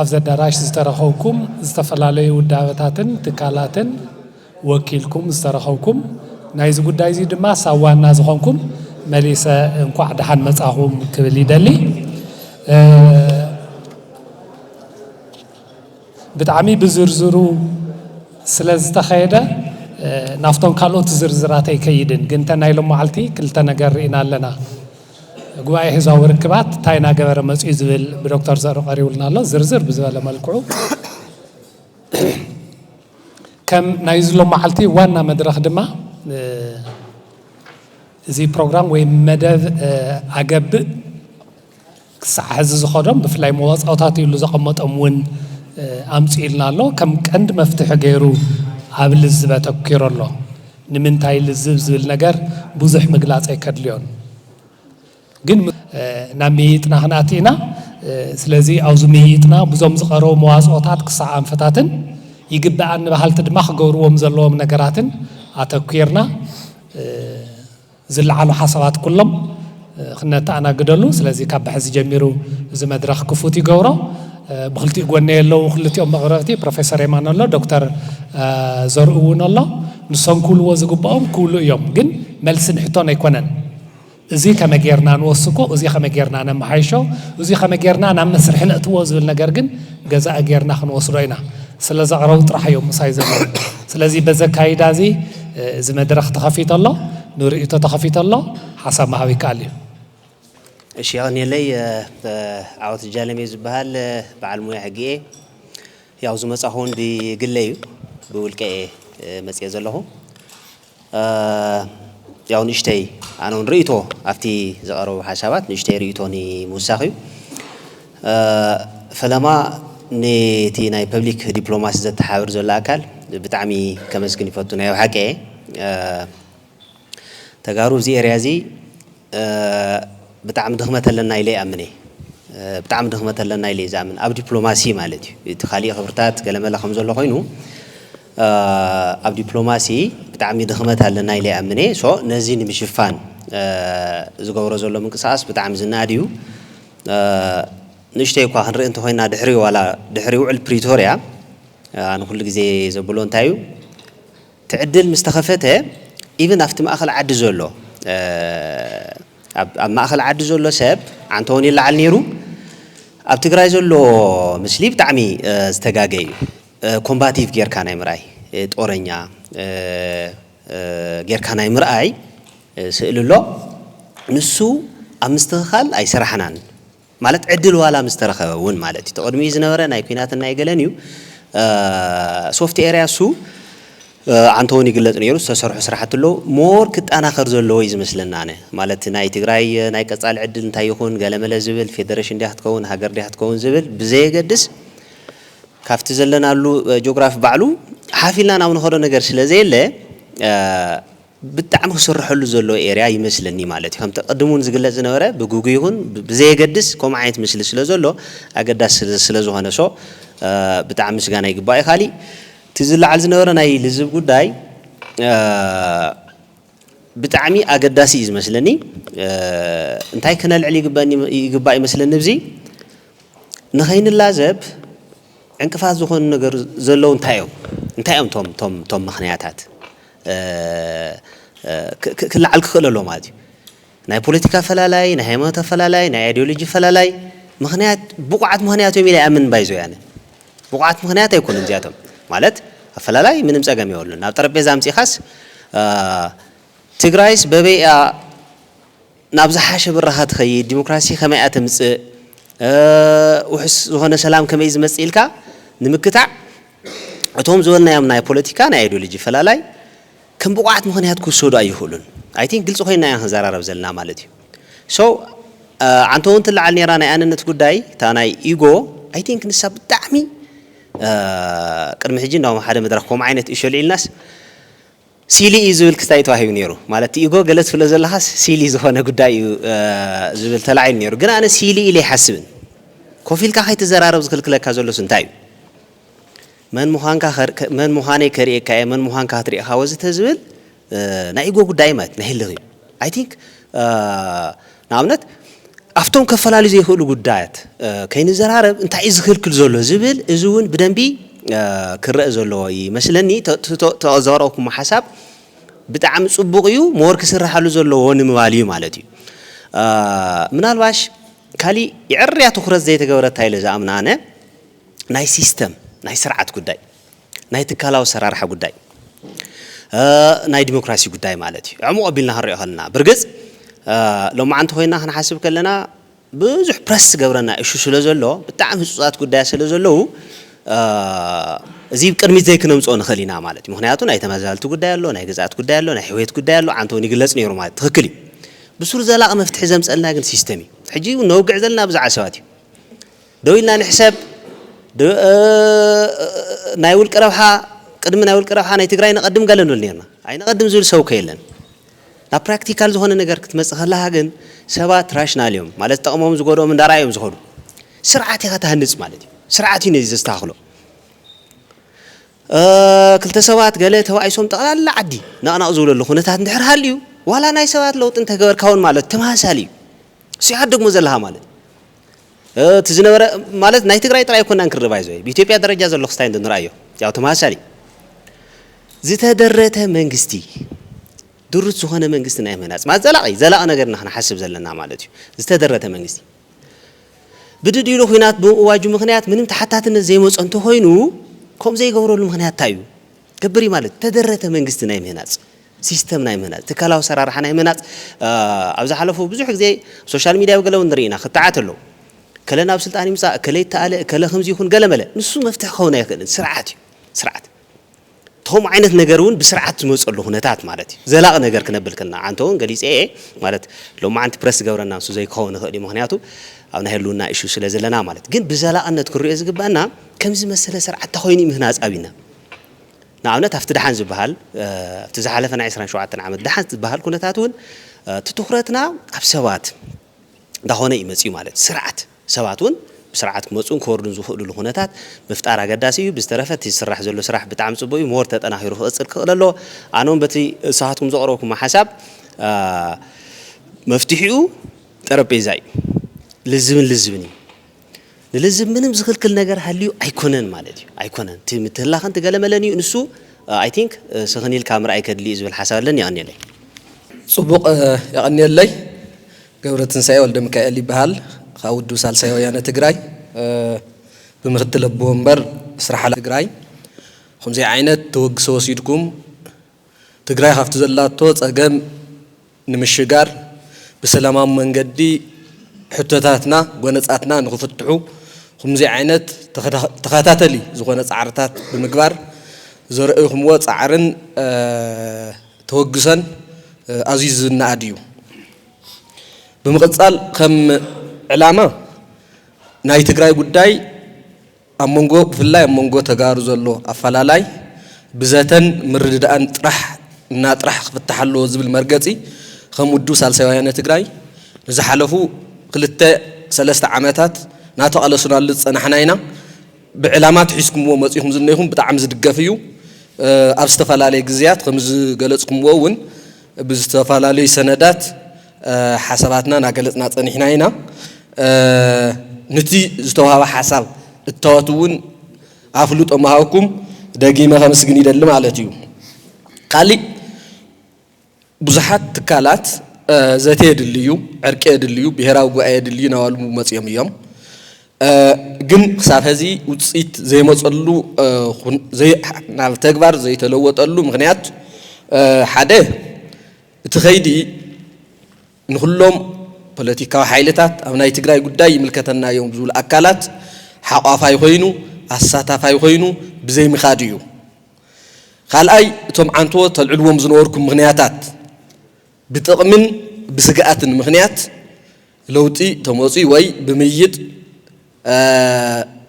ኣብዚ ኣዳራሽ ዝተረኸብኩም ዝተፈላለዩ ውዳበታትን ትካላትን ወኪልኩም ዝተረኸብኩም ናይዚ ጉዳይ እዚ ድማ ሳብ ዋና ዝኾንኩም መሊሰ እንኳዕ ደሓን መጻኹም ክብል ይደሊ። ብጣዕሚ ብዝርዝሩ ስለ ዝተኸየደ ናብቶም ካልኦት ዝርዝራት ኣይከይድን፣ ግን እተን ናይ ሎማዓልቲ ክልተ ነገር ርኢና ኣለና። ጉባኤ ህዝባዊ ርክባት እንታይ እናገበረ መፅዩ ዝብል ብዶክተር ዘሩ ቀሪቡልና ኣሎ ዝርዝር ብዝበለ መልክዑ ከም ናይ ዝሎ መዓልቲ ዋና መድረኽ ድማ እዚ ፕሮግራም ወይ መደብ ኣገብእ ክሳዕ ሕዚ ዝኸዶም ብፍላይ መዋፃውታት ይሉ ዘቐመጦም እውን ኣምፅኢልና ኣሎ ከም ቀንዲ መፍትሒ ገይሩ ኣብ ልዝበ ተኪሮ ኣሎ ንምንታይ ልዝብ ዝብል ነገር ብዙሕ ምግላፅ ኣይከድልዮን ግን ናብ ምይይጥና ክንኣቲ ኢና። ስለዚ ኣብዚ ምይይጥና ብዞም ዝቐረቡ መዋፅኦታት ክሳዕ ኣንፈታትን ይግበኣኒ በሃልቲ ድማ ክገብርዎም ዘለዎም ነገራትን ኣተኲርና ዝለዓሉ ሓሳባት ኩሎም ክነተኣናግደሉ ስለዚ ካብ ብሐዚ ጀሚሩ እዚ መድረኽ ክፉት ይገብሮ። ብክልቲኡ ጎነይ ኣለዉ ክልቲኦም መቕረብቲ ፕሮፌሰር የማነ ኣሎ ዶክተር ዘርኡ እውን ኣሎ ንሶም ክብልዎ ዝግብኦም ክብሉ እዮም ግን መልሲ ንሕቶን ኣይኮነን እዙይ ከመይ ጌርና ንወስኮ እዙይ ከመይ ጌርና ነመሓይሾ እዙይ ከመይ ጌርና ናብ መስርሒ ነእትዎ ዝብል ነገር ግን ገዛኢ ጌርና ክንወስዶ ኢና ስለዘቕረቡ ጥራሕ እዮም ምሳይ ዘለዉ ስለዚ በዚ ኣካይዳ እዚ እዚ መድረኽ ተኸፊቱ ኣሎ ንርእይቶ ተኸፊቱ ኣሎ ሓሳብ ምሃብ ይከኣል እዩ። እሺ የቐንየለይ ዓወት ጃለም እየ ዝበሃል በዓል ሞያ ሕጊ እየ ያው ዝመፃኹ እውን ብግለ እዩ ብውልቀ እየ መፅየ ዘለኹ ያው ንእሽተይ ኣነ እውን ርእይቶ ኣብቲ ዝቐረቡ ሓሳባት ንእሽተይ ርእይቶ ንምውሳኽ እዩ ፈለማ ንቲ ናይ ፐብሊክ ዲፕሎማሲ ዘተሓባብር ዘሎ ኣካል ብጣዕሚ ከመስግን ይፈቱ ናይ ብሓቂ እየ ተጋሩ እዚ ኤርያ እዚ ብጣዕሚ ድኽመት ኣለና ኢለ ይኣምን እየ ብጣዕሚ ድኽመት ኣለና ኢለ ዝኣምን ኣብ ዲፕሎማሲ ማለት እዩ እቲ ካሊእ ክብርታት ገለመለ ከም ዘሎ ኮይኑ ኣብ ዲፕሎማሲ ብጣዕሚ ድኽመት ኣለና ኢለ ይኣምን እየ ሶ ነዚ ንምሽፋን ዝገብሮ ዘሎ ምንቅስቓስ ብጣዕሚ ዝነኣድ እዩ ንእሽተይ እኳ ክንርኢ እንተኾይንና ድሕሪ ዋላ ድሕሪ ውዕል ፕሪቶርያ ኣነ ኩሉ ግዜ ዘብሎ እንታይ እዩ ትዕድል ምስ ተኸፈተ ኢቭን ኣብቲ ማእኸል ዓዲ ዘሎ ኣብ ማእኸል ዓዲ ዘሎ ሰብ ዓንተውን ይለዓል ነይሩ ኣብ ትግራይ ዘሎ ምስሊ ብጣዕሚ ዝተጋገ እዩ ኮምባቲቭ ጌርካ ናይ ምርኣይ ጦረኛ ጌርካ ናይ ምርኣይ ስእሊ ኣሎ ንሱ ኣብ ምስትኽኻል ኣይሰራሕናን ማለት ዕድል ዋላ ምስ ተረኸበ እውን ማለት እዩ ተቐድሚኡ ዝነበረ ናይ ኩናትን ናይ ገለን እዩ ሶፍት ኤርያ እሱ ዓንተውን ይግለጽ ነይሩ ዝተሰርሑ ስራሕቲ ኣለዉ ሞር ክጠናኸር ዘለዎ እዩ ዝመስለና ኣነ ማለት ናይ ትግራይ ናይ ቀጻሊ ዕድል እንታይ ይኹን ገለመለ ዝብል ፌደሬሽን ድያ ክትከውን ሃገር ድያ ክትከውን ዝብል ብዘየገድስ ካብቲ ዘለናሉ ጆግራፊ ባዕሉ ሓፍ ኢልና ናብ ንኸዶ ነገር ስለ ዘየለ ብጣዕሚ ክስረሐሉ ዘለዎ ኤርያ ይመስለኒ ማለት እዩ። ከምቲ ቅድም እውን ዝግለፅ ዝነበረ ብግጉ ይኹን ብዘየገድስ ከምኡ ዓይነት ምስሊ ስለ ዘሎ ኣገዳሲ ስለ ዝኾነ so ብጣዕሚ ምስጋና ይግባእ እዩ። ካሊእ እቲ ዝለዓል ዝነበረ ናይ ልዝብ ጉዳይ ብጣዕሚ ኣገዳሲ እዩ ዝመስለኒ እንታይ ክነልዕል ይግበእኒ ይግባእ ይመስለኒ እብዚ ንኸይንላዘብ ዕንቅፋት ዝኾኑ ነገር ዘለዉ እንታይ እዮም እንታይ እዮም ቶም ቶም ቶም ምኽንያታት ክልዓል ክኽእል ኣለዎ ማለት እዩ። ናይ ፖለቲካ ኣፈላላይ፣ ናይ ሃይማኖት ኣፈላላይ፣ ናይ ኣይዲዮሎጂ ኣፈላላይ ምኽንያት ብቑዓት ምኽንያት እዮም ኢለ ኣይኣምንን ባይ ዘ ዌይ ኣነ። ብቑዓት ምኽንያት ኣይኮኑን እዚኣቶም። ማለት ኣፈላላይ ምንም ፀገም የብሉን። ናብ ጠረጴዛ ኣምፂእኻስ ትግራይስ በበይ እያ ናብ ዝሓሸ ብራኸ ትኸይድ፣ ዲሞክራሲ ከመይ እያ ተምፅእ፣ ውሑስ ዝኾነ ሰላም ከመይ እዩ ዝመፅእ ኢልካ ንምክታዕ እቶም ዝበልናዮም ናይ ፖለቲካ፣ ናይ ኣይዲዮሎጂ ኣፈላላይ፣ ከም ብቑዓት ምኽንያት ክውሰዱ ኣይኽእሉን። I think ግልፂ ኮይንና ኢና ክንዘራረብ ዘለና ማለት እዩ። So ዓንቶ እውን ትለዓል ነይራ ናይ ኣነነት ጉዳይ እታ ናይ Ego I think ንሳ ብጣዕሚ ቅድሚ ሕጂ እንዳውም ኣብ ሓደ መድረኽ ከምኡ ዓይነት እሾ ኣልዒልናስ ሲሊ እዩ ዝብል ክስታይ ተዋሂቡ ነይሩ ማለት እቲ Ego ገለ ትብሎ ዘለኻስ ሲሊ ዝኾነ ጉዳይ እዩ ዝብል ተላዒሉ ነይሩ ግን ኣነ ሲሊ ኢለ ኣይሓስብን። ኮፍ ኢልካ ከይትዘራረብ ዝኽልክለካ ዘሎስ እንታይ እዩ? መን ምዃንካ ከ መን ምዃነይ ከርእየካ እየ መን ምዃንካ ክትርእኻ ወዘተ ዝብል ናይ ኢጎ ጉዳይ ማለት ናይ ህልኽ እዩ ኣይ ቲንክ ንኣብነት ኣብቶም ከፈላልዩ ዘይክእሉ ጉዳያት ከይንዘራረብ እንታይ እዩ ዝኽልክል ዘሎ ዝብል እዚ እውን ብደንቢ ክረአ ዘለዎ ይመስለኒ ተዘረብኩሞ ሓሳብ ብጣዕሚ ፅቡቕ እዩ ሞር ክስራሓሉ ዘለዎ ንምባል እዩ ማለት እዩ ምናልባሽ ካሊእ ይዕርያ ትኹረት ዘይተገበረታ ኢለ ዝኣምና ኣነ ናይ ሲስተም ናይ ስርዓት ጉዳይ ናይ ትካላዊ ኣሰራርሓ ጉዳይ ናይ ዲሞክራሲ ጉዳይ ማለት እዩ ዕሙቕ ኣቢልና ክንሪኦ ከለና ብርግፅ ሎማዓንቲ ኮይና ክንሓስብ ከለና ብዙሕ ፕረስ ዝገብረና እሹ ስለ ዘሎ ብጣዕሚ ህፁፃት ጉዳያት ስለ ዘለዉ እዚ ቅድሚት ዘይክነምፅኦ ንኽእል ኢና ማለት እዩ ምክንያቱ ናይ ተመዛበልቲ ጉዳይ ኣሎ ናይ ግዝኣት ጉዳይ ኣሎ ናይ ሕውየት ጉዳይ ኣሎ ዓንተ እውን ይግለፅ ነይሩ ማለት ትኽክል እዩ ብሱር ዘላቒ መፍትሒ ዘምፀልና ግን ሲስተም እዩ ሕጂ እውን ነውግዕ ዘለና ብዙሓት ሰባት እዩ ደው ኢልና ንሕሰብ ናይ ውልቂ ረብሓ ቅድሚ ናይ ውልቂ ረብሓ ናይ ትግራይ ነቐድም ገለ ንብል ኔርና። ኣይነቐድም ዝብል ሰብ እኮ የለን። ናብ ፕራክቲካል ዝኾነ ነገር ክትመጽእ ከለኻ ግን ሰባት ራሽናል እዮም ማለት ዝጠቕሞም ዝጎድኦም እንዳርኣዩ እዮም ዝኸዱ። ስርዓት ኢኻ ትሃንጽ ማለት እዩ። ስርዓት እዩ ነዚ ዘስተኻኽሎ። ክልተ ሰባት ገለ ተባኢሶም ጠቕላላ ዓዲ ነቕነቕ ዝብለሉ ኩነታት እንድሕር ሃልዩ ዋላ ናይ ሰባት ለውጢ እንተገበርካ እውን ማለት ተመሳሳሊ እዩ። እሱ ኢኻ ትደግሞ ዘለኻ ማለት እቲ ዝነበረ ማለት ናይ ትግራይ ጥራይ ኣይኮናን ክንርብ ኣይዞይ ብኢትዮጵያ ደረጃ ዘሎ ክስታይ እንድንርኣዮ ያው ተመሳሳሊ ዝተደረተ መንግስቲ ድሩት ዝኾነ መንግስቲ ናይ ምህናፅ ማለት ዘላቒ ዘላቒ ነገር ኢና ክንሓስብ ዘለና ማለት እዩ ዝተደረተ መንግስቲ ብድድ ኢሉ ኩናት ብምእዋጁ ምክንያት ምንም ተሓታትነት ዘይመፆ እንተኾይኑ ከምኡ ዘይገብረሉ ምክንያት እንታይ እዩ ገብር ማለት ተደረተ መንግስቲ ናይ ምህናፅ ሲስተም ናይ ምህናጽ፣ ትካላዊ ኣሰራርሓ ናይ ምህናጽ ኣብ ዝሓለፉ ብዙሕ ግዜ ኣብ ሶሻል ሚድያ ኣብ ገለ እውን ንርኢ ኢና፣ ክትዓት ኣሎ። እከለ ናብ ስልጣን ይምጻእ፣ እከለ ይተኣለ፣ እከለ ከምዚ ይኹን ገለ መለ። ንሱ መፍትሒ ክኸውን ኣይክእልን። ስርዓት እዩ። ስርዓት። እቲ ከምኡ ዓይነት ነገር እውን ብስርዓት ዝመጸሉ ኩነታት ማለት እዩ። ዘላቒ ነገር ክነብል ከለና ዓንተ እውን ገሊጸ እየ ማለት ሎማዓንቲ ፕረስ ዝገብረና ንሱ ዘይክኸውን ይኽእል እዩ ምኽንያቱ ኣብ ናይ ህልውና ኢሹ ስለ ዘለና ማለት ግን ብዘላቕነት ክንሪኦ ዝግበኣና ከምዚ ዝመሰለ ስርዓት እንተኾይኑ እዩ ምህናጽ ኣብና ንኣብነት ኣብቲ ደሓን ዝበሃል ኣብቲ ዝሓለፈ ናይ ዕስራን ሸውዓተን ዓመት ደሓን ዝበሃል ኩነታት እውን እቲ ትኹረትና ኣብ ሰባት እንዳኾነ እዩ መፂኡ ማለት እዩ። ስርዓት ሰባት እውን ብስርዓት ክመፁን ክወርዱን ዝኽእሉሉ ኩነታት ምፍጣር ኣገዳሲ እዩ። ብዝተረፈ እቲ ዝስራሕ ዘሎ ስራሕ ብጣዕሚ ፅቡቅ እዩ ሞር ተጠናኺሩ ክቅፅል ክኽእል ኣለዎ። ኣነ እውን በቲ ንስኻትኩም ዘቅረብኩሞ ሓሳብ መፍትሒኡ ጠረጴዛ እዩ። ልዝብን ልዝብን እዩ። ንልዝብ ምንም ዝክልክል ነገር ሃልዩ ኣይኮነን ማለት እዩ ኣይኮነን እቲ ምትህላኸን ትገለመለን እዩ ንሱ ኣይ ቲንክ ስኽን ኢልካ ምርኣይ ከድሊ እዩ ዝብል ሓሳብ ኣለኒ የቐንየለይ ጽቡቕ የቐንየለይ ገብረትንሳኤ ወልደሚካኤል ይበሃል ካብ ውድብ ሳልሳይ ወያነ ትግራይ ብምክትል ኣቦ ወንበር ስራሕ ሓላፊ ትግራይ ኹምዚ ዓይነት ተወግሶ ወሲድኩም ትግራይ ካብቲ ዘላቶ ጸገም ንምሽጋር ብሰላማዊ መንገዲ ሕቶታትና ጎነጻትና ንክፍትሑ ኹምዙይ ዓይነት ተኸታተሊ ዝኾነ ፃዕርታት ብምግባር ዘርእኹምዎ ፃዕርን ተወግሶን ኣዙዩ ዝናኣድ እዩ። ብምቕፃል ኸም ዕላማ ናይ ትግራይ ጉዳይ ኣብ መንጎ ብፍላይ ኣብ መንጎ ተጋሩ ዘሎ ኣፈላላይ ብዘተን ምርድዳእን ጥራሕ እና ጥራሕ ክፍታሕ ኣለዎ ዝብል መርገፂ ከም ውድብ ሳልሳይ ወያነ ትግራይ ንዝሓለፉ ክልተ ሰለስተ ዓመታት ናተቓለሱናሉ ዝፀናሕና ኢና ብዕላማ ትሒዝኩምዎ መፂኹም ዝኒኹም ብጣዕሚ ዝድገፍ እዩ ኣብ ዝተፈላለየ ግዝያት ከምዝገለፅኩምዎ እውን ብዝተፈላለዩ ሰነዳት ሓሳባትና ናገለጽና ጸኒሕና ኢና። ንቲ ዝተዋህበ ሓሳብ እታወት እውን ኣፍልጦ ምሃብኩም ደጊመ ከምስግን ይደሊ ማለት እዩ። ካሊእ ብዙሓት ትካላት ዘተ የድሊ እዩ፣ ዕርቂ የድሊ እዩ፣ ብሄራዊ ጉባኤ የድሊ እዩ ናባሉ መጺኦም እዮም። ግን ክሳብ ሀዚ ውጽኢት ዘይመጸሉ ናብ ተግባር ዘይተለወጠሉ ምክንያት ሓደ እቲ ከይዲ ንኹሎም ፖለቲካዊ ሓይልታት፣ ኣብ ናይ ትግራይ ጉዳይ ይምልከተና እዮም ዝብሉ ኣካላት ሓቋፋይ ኮይኑ፣ ኣሳታፋይ ኮይኑ ብዘይምኻድ እዩ። ካልኣይ እቶም ዓንተዎ ተልዕልዎም ዝነበርኩም ምኽንያታት ብጥቕምን ብስግኣትን ምኽንያት፣ ለውጢ ተመፅዩ ወይ ብምይይጥ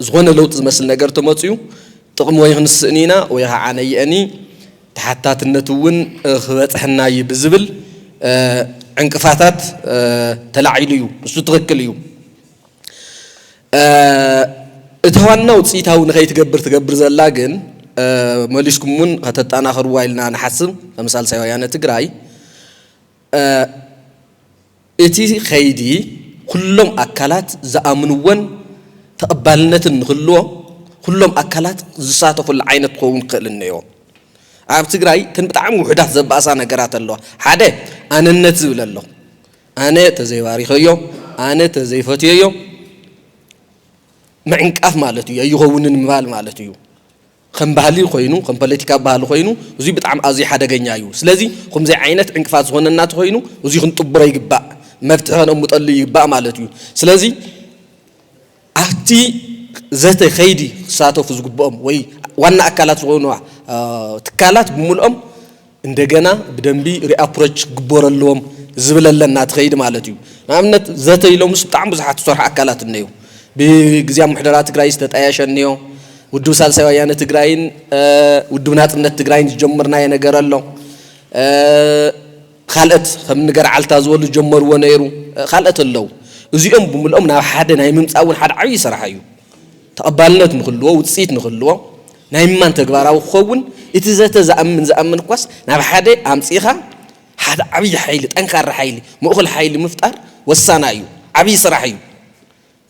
ዝኾነ ለውጢ ዝመስል ነገር ተመፅዩ ጥቕሚ ወይ ክንስእኒ ኢና ወይ ኸዓ ነየእኒ ተሓታትነት እውን ክበፅሐና እዩ ብዝብል ዕንቅፋታት ተላዒሉ እዩ። ንሱ ትኽክል እዩ። እታ ዋና ውፅኢታዊ ንኸይትገብር ትገብር ዘላ ግን መሊስኩም እውን ከተጠናኽርዋ ኢልና ንሓስብ ከም ሳልሳይ ወያነ ትግራይ እቲ ከይዲ ኩሎም ኣካላት ዝኣምንዎን ተቐባልነትን ንክህልዎ ኩሎም ኣካላት ዝሳተፍሉ ዓይነት ክኸውን ክኽእል እነኦ። ኣብ ትግራይ እተን ብጣዕሚ ውሑዳት ዘባእሳ ነገራት ኣለዋ። ሓደ ኣነነት ዝብል ኣሎ። ኣነ ተዘይባሪኸዮ፣ ኣነ ተዘይፈትየዮ ምዕንቃፍ ማለት እዩ። ኣይኸውንን ምባል ማለት እዩ። ከም ባህሊ ኮይኑ ከም ፓለቲካዊ ባህሊ ኮይኑ እዙይ ብጣዕሚ ኣዝዩ ሓደገኛ እዩ ስለዚ ኹምዙይ ዓይነት ዕንቅፋት ዝኾነና ተኾይኑ እዙይ ክንጥብሮ ይግባእ መፍትሒ ከነቅምጠሉ ይግባእ ማለት እዩ ስለዚ ኣብቲ ዘተ ከይዲ ክሳተፉ ዝግብኦም ወይ ዋና ኣካላት ዝኾኑ ትካላት ብምልኦም እንደገና ብደንቢ ሪኣፕሮች ክግበሩ ኣለዎም ዝብል ኣለና ትኸይድ ማለት እዩ ንኣብነት ዘተ ኢሎምስ ብጣዕሚ ብዙሓት ዝሰርሑ ኣካላት እነየው ብግዝያዊ ምሕደራ ትግራይ ዝተጣየሸ እነዮ ውድብ ሳልሳይ ወያነ ትግራይን ውድብ ናፅነት ትግራይን ዝጀመርናዮ ነገር ኣሎ ኻልእት ኸም ንገርዓልታ ዝበሉ ዝጀመርዎ ነይሩ ኻልእት ኣለው እዚኦም ብምልኦም ናብ ሓደ ናይ ምምፃእ እውን ሓደ ዓብዪ ስራሕ እዩ ተቐባልነት ንክህልዎ፣ ውጽኢት ንክህልዎ፣ ናይ ምማን ተግባራዊ ክኸውን እቲ ዘተ ዝኣምን ዝኣምን እኳስ ናብ ሓደ ኣምጺእኻ ሓደ ዓብይ ሓይሊ ጠንካራ ሓይሊ ምእኹል ሓይሊ ምፍጣር ወሳናይ እዩ። ዓብይ ስራሕ እዩ።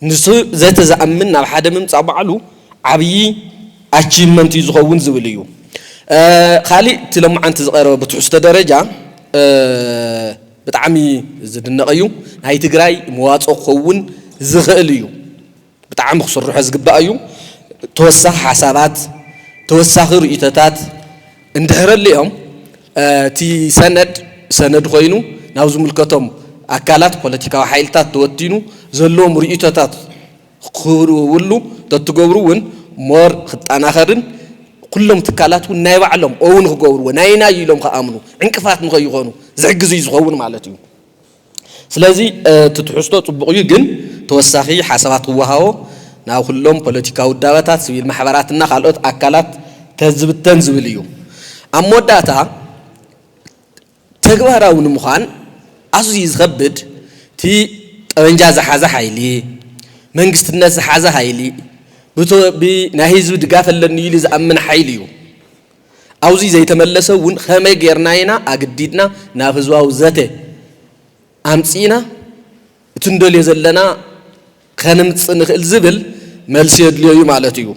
ንሱ ዘተ ዝኣምን ናብ ሓደ ምምጻእ ባዕሉ ዓብይ ኣቺቭመንት እዩ ዝኸውን ዝብል እዩ። ካሊእ እቲ ሎማዓንቲ ዝቐረበ ብትሕዝቶ ደረጃ ብጣዕሚ ዝድነቕ እዩ። ናይ ትግራይ መዋጽኦ ክኸውን ዝኽእል እዩ። ብጣዕሚ ክስርሖ ዝግባእ እዩ። ተወሳኺ ሓሳባት፣ ተወሳኺ ርእይቶታት እንድሕር ኣሊኦም እቲ ሰነድ ሰነድ ኮይኑ ናብ ዝምልከቶም ኣካላት ፖለቲካዊ ሓይልታት ተወቲኑ ዘለዎም ርእይቶታት ክህብሉ ተትገብሩ እውን more ክጠናኸርን ኩሎም ትካላት እውን ናይ ባዕሎም own ክገብርዎ ናይ ናይ ኢሎም ክኣምኑ ዕንቅፋት ንከይኾኑ ዝሕግዝ እዩ ዝኸውን ማለት እዩ። ስለዚ እቲ ትሕዝቶ ጽቡቕ እዩ ግን ተወሳኺ ሓሳባት ክወሃቦ ናብ ኩሎም ፖለቲካዊ ውዳበታት፣ ስቪል ማሕበራት እና ካልኦት ኣካላት ተዝብተን ዝብል እዩ። ኣብ መወዳእታ ተግባራዊ ንምዃን ኣዝዩ ዝኸብድ እቲ ጠበንጃ ዝሓዘ ሓይሊ፣ መንግስትነት ዝሓዘ ሃይሊ፣ ብናይ ህዝቢ ድጋፍ ኣለኒ ኢሉ ዝኣምን ሓይሊ እዩ። ኣውዚ ዘይተመለሰ እውን ኸመይ ገይርና ኢና ኣግዲድና ናብ ህዝባዊ ዘተ ኣምፂእና እቲ ንደልዮ ዘለና ኸንምፅእ ንኽእል ዝብል መልሲ የድልዮ እዩ ማለት እዩ።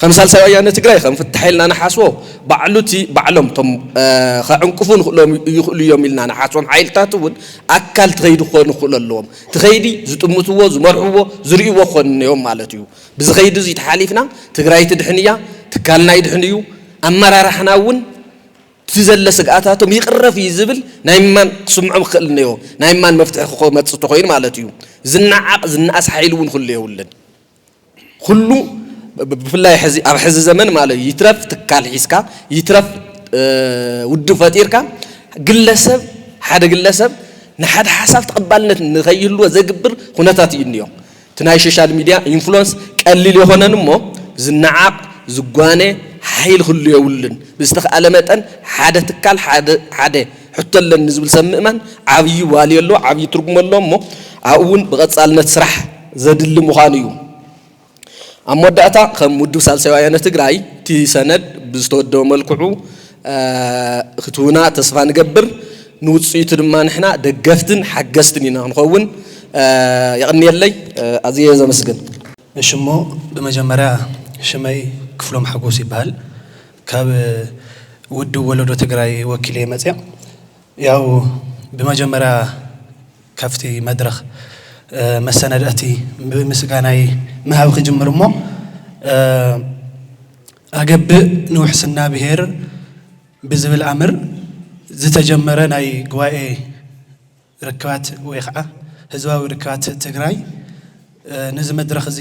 ኸም ሳልሳይ ወያነ ትግራይ ኸም ፍታሕ ኢልና ንሓስቦ ባዕሉ እቲ ባዕሎም እቶም ኸዕንቅፉ ንኽእሎም ይኽእሉ እዮም ኢልና ንሓስቦም ሓይልታት እውን ኣካል እቲ ኸይዲ ክኾኑ ክኽእሉ ኣለዎም። እቲ ኸይዲ ዝጥምትዎ፣ ዝመርሕዎ፣ ዝርእይዎ ክኾኑ እኒኦም ማለት እዩ። ብዚ ከይዲ እዙይ ተሓሊፍና ትግራይ ትድሕን እያ፣ ትካልና ይድሕን እዩ፣ ኣመራርሓና እውን እቲ ዘለ ስግኣታቶም ይቕረፍ እዩ ዝብል ናይ ምማን ክስምዖም ክኽእል እነኦ። ናይ ምማን መፍትሒ ክመፅእ ተኾይኑ ማለት እዩ። ዝነዓቕ ዝነኣስ ሓይሊ እውን ክህሉ የብሉን። ኩሉ ብፍላይ ሕዚ ኣብ ሕዚ ዘመን ማለት ይትረፍ ትካል ሒዝካ ይትረፍ ውድብ ፈጢርካ ግለሰብ ሓደ ግለሰብ ንሓደ ሓሳብ ተቐባልነት ንከይህልዎ ዘግብር ኩነታት እዩ እኒኦ። እቲ ናይ ሾሻል ሚድያ ኢንፍሎንስ ቀሊል የኮነን እሞ ዝናዓቅ ዝጓነ ሓሒል ክህሉ የብሉን ብዝተካኣለ መጠን ሓደ ትካል ሓደ ሕቶ ኣለኒ ዝብል ሰብ ምእማን ዓብይ ቫልዩ ኣለዎ ዓብይ ትርጉም ኣለዎ እሞ ኣብኡ እውን ብቀፃልነት ስራሕ ዘድሊ ምኳኑ እዩ ኣብ መወዳእታ ከም ውድብ ሳልሳይ ወያነ ትግራይ እቲ ሰነድ ብዝተወደበ መልክዑ ክትህቡና ተስፋ ንገብር ንውፅኢቱ ድማ ንሕና ደገፍትን ሓገዝትን ኢና ክንኸውን። የቐንየለይ ኣዝየ እየ ዘመስግን። እሺ እሞ ብመጀመርያ ሽመይ ክፍሎም ሓጎስ ይበሃል ካብ ውድብ ወለዶ ትግራይ ወኪለ እየ መፅየ ያው ብመጀመርያ ካብቲ መድረኽ መሰነዳእቲ ብምስጋናይ ምሃብ ክጅምር እሞ ኣገብእ ንውሕስና ብሄር ብዝብል ኣምር ዝተጀመረ ናይ ጉባኤ ርክባት ወይ ኸዓ ህዝባዊ ርክባት ትግራይ ነዚ መድረኽ እዚ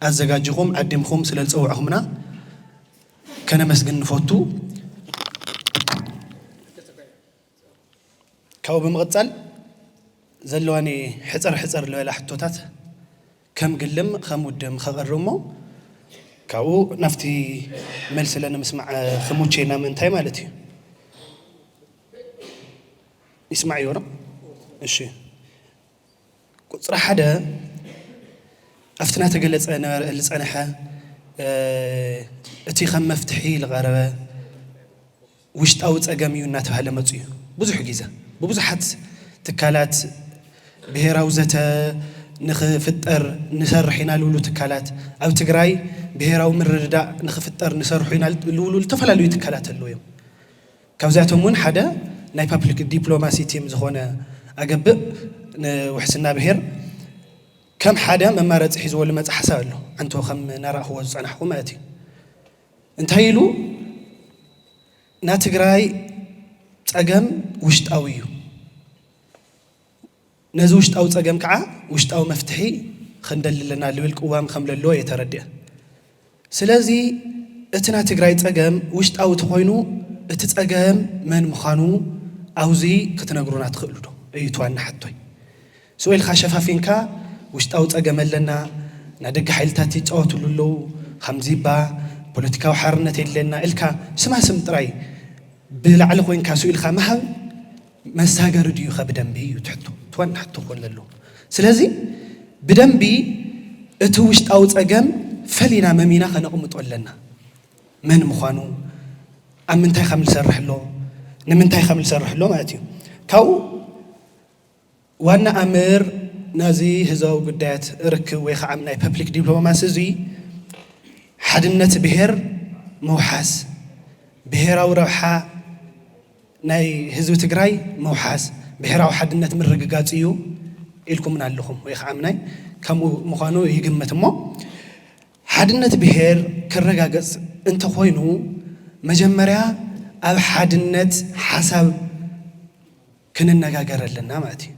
ኣዘጋጅኹም ዓዲምኹም ስለ ዝፀውዕኹምና ከነመስግን ንፎቱ። ካብኡ ብምቕጻል ዘለዋኒ ሕጽር ሕጽር ዝበላ ሕቶታት ከም ግልም ከም ውድም ከቕርብ እሞ ካብኡ ናብቲ መልሲ ለንምስማዕ ክሙቼና ምእንታይ ማለት እዩ። ይስማዕ ይወርቕ እሺ ቁጽሪ ሓደ ኣብቲ እናተገለጸ ነበረ ልጸነሐ እቲ ከም መፍትሒ ልቐረበ ውሽጣዊ ጸገም እዩ እናተባህለ መጹ እዩ። ብዙሕ ጊዘ ብብዙሓት ትካላት ብሄራዊ ዘተ ንክፍጠር ንሰርሕ ኢና ልብሉ ትካላት ኣብ ትግራይ ብሄራዊ ምርድዳእ ንክፍጠር ንሰርሑ ኢና ልብሉ ልተፈላለዩ ትካላት ኣለዉ እዮም። ካብዚኣቶም እውን ሓደ ናይ ፓፕሊክ ዲፕሎማሲ ቲም ዝኾነ ኣገብእ ንውሕስና ብሄር ከም ሓደ መማረፂ ሒዝዎ ልመፀ ሓሳብ ኣሎ ኣንቶ ከም ናራእኽዎ ዝፀናሕኹ ማለት እዩ እንታይ ኢሉ ናትግራይ ፀገም ውሽጣዊ እዩ ነዚ ውሽጣዊ ጸገም ከኣ ውሽጣዊ መፍትሒ ኽንደሊ ኣለና ልብል ቅዋም ከም ለሎ እየ ተረዲኣ። ስለዚ እቲ ናይ ትግራይ ጸገም ውሽጣዊ ተኾይኑ እቲ ጸገም መን ምዃኑ ኣውዚ ክትነግሩና ትኽእሉ ዶ? እዩ እቲ ዋና ሕቶይ። ስቕ ኢልካ ሸፋፊንካ ውሽጣዊ ጸገም ኣለና፣ ናይ ደገ ሓይልታት ይጻወትሉ ኣለዉ፣ ኻምዚባ፣ ፖለቲካዊ ሓርነት የድልየና ኢልካ ስማ ስም ጥራይ ብላዕሊ ኮይንካ ስኢልካ ምሃብ፣ መሳገሪ ድዩኸ ብደንቢ እዩ ትሕቶ ትዋና ሕቶ ክኾን ዘለዎ ስለዚ ብደንቢ እቲ ውሽጣዊ ፀገም ፈሊና መሚና ከነቕምጦ ኣለና መን ምዃኑ ኣብ ምንታይ ከም ዝሰርሕ ኣሎ ንምንታይ ከም ዝሰርሕ ኣሎ ማለት እዩ ካብኡ ዋና ኣምር ናዚ ህዝባዊ ጉዳያት ርክብ ወይ ኸዓ ናይ ፐፕሊክ ዲፕሎማሲ እዙይ ሓድነት ብሄር ምውሓስ፣ ብሄራዊ ረብሓ ናይ ህዝቢ ትግራይ ምውሓስ፣ ብሄራዊ ሓድነት ምርግጋፅ እዩ ኢልኩምና ኣለኹም ወይ ኸዓ ምናይ ከምኡ ምዃኑ ይግምት እሞ ሓድነት ብሄር ክረጋገፅ እንተኾይኑ መጀመርያ ኣብ ሓድነት ሓሳብ ክንነጋገር ኣለና ማለት እዩ።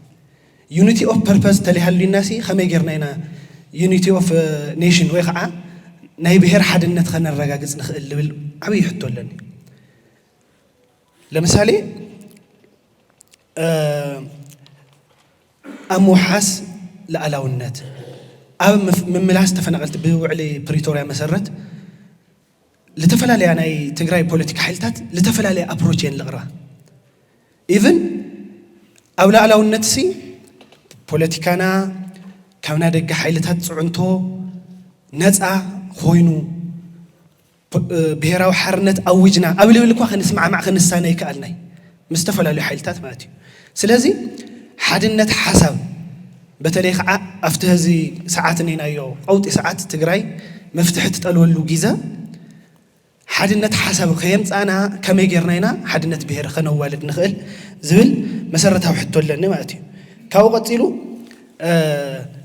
ዩኒቲ ኦፍ ፐርፐዝ ተለይሃልዩና ሲ ከመይ ጌርና ኢና ዩኒቲ ኦፍ ኔሽን ወይ ከዓ ናይ ብሄር ሓድነት ከነረጋግፅ ንኽእል ልብል ዓብዪ ሕቶ ኣለኒ። ለምሳሌ ኣብ ምውሓስ ልኣላውነት ኣብ ምምላስ ተፈናቐልቲ ብውዕሊ ፕሪቶርያ መሰረት ልተፈላለያ ናይ ትግራይ ፖለቲካ ሓይልታት ልተፈላለየ ኣፕሮች እየን ልቕርባ ኢቭን ኣብ ላዕላውነት ሲ ፖለቲካና ካብ ናይ ደገ ሓይልታት ፅዕንቶ ነፃ ኮይኑ ብሄራዊ ሓርነት ኣዊጅና ኣብ ልብል እኳ ክንስማዕማዕ ክንሳነ ይከኣልና እዩ ምስ ዝተፈላለዩ ሓይልታት ማለት እዩ ስለዚ ሓድነት ሓሳብ በተለይ ከዓ ኣብቲ ሀዚ ሰዓት እኔናዮ ቀውጢ ሰዓት ትግራይ መፍትሒ ትጠልወሉ ጊዘ ሓድነት ሓሳብ ከየምፃእና ከመይ ጌርና ኢና ሓድነት ብሄር ከነዋልድ ንኽእል ዝብል መሰረታዊ ሕቶ ኣለኒ ማለት እዩ ካብኡ ቀፂሉ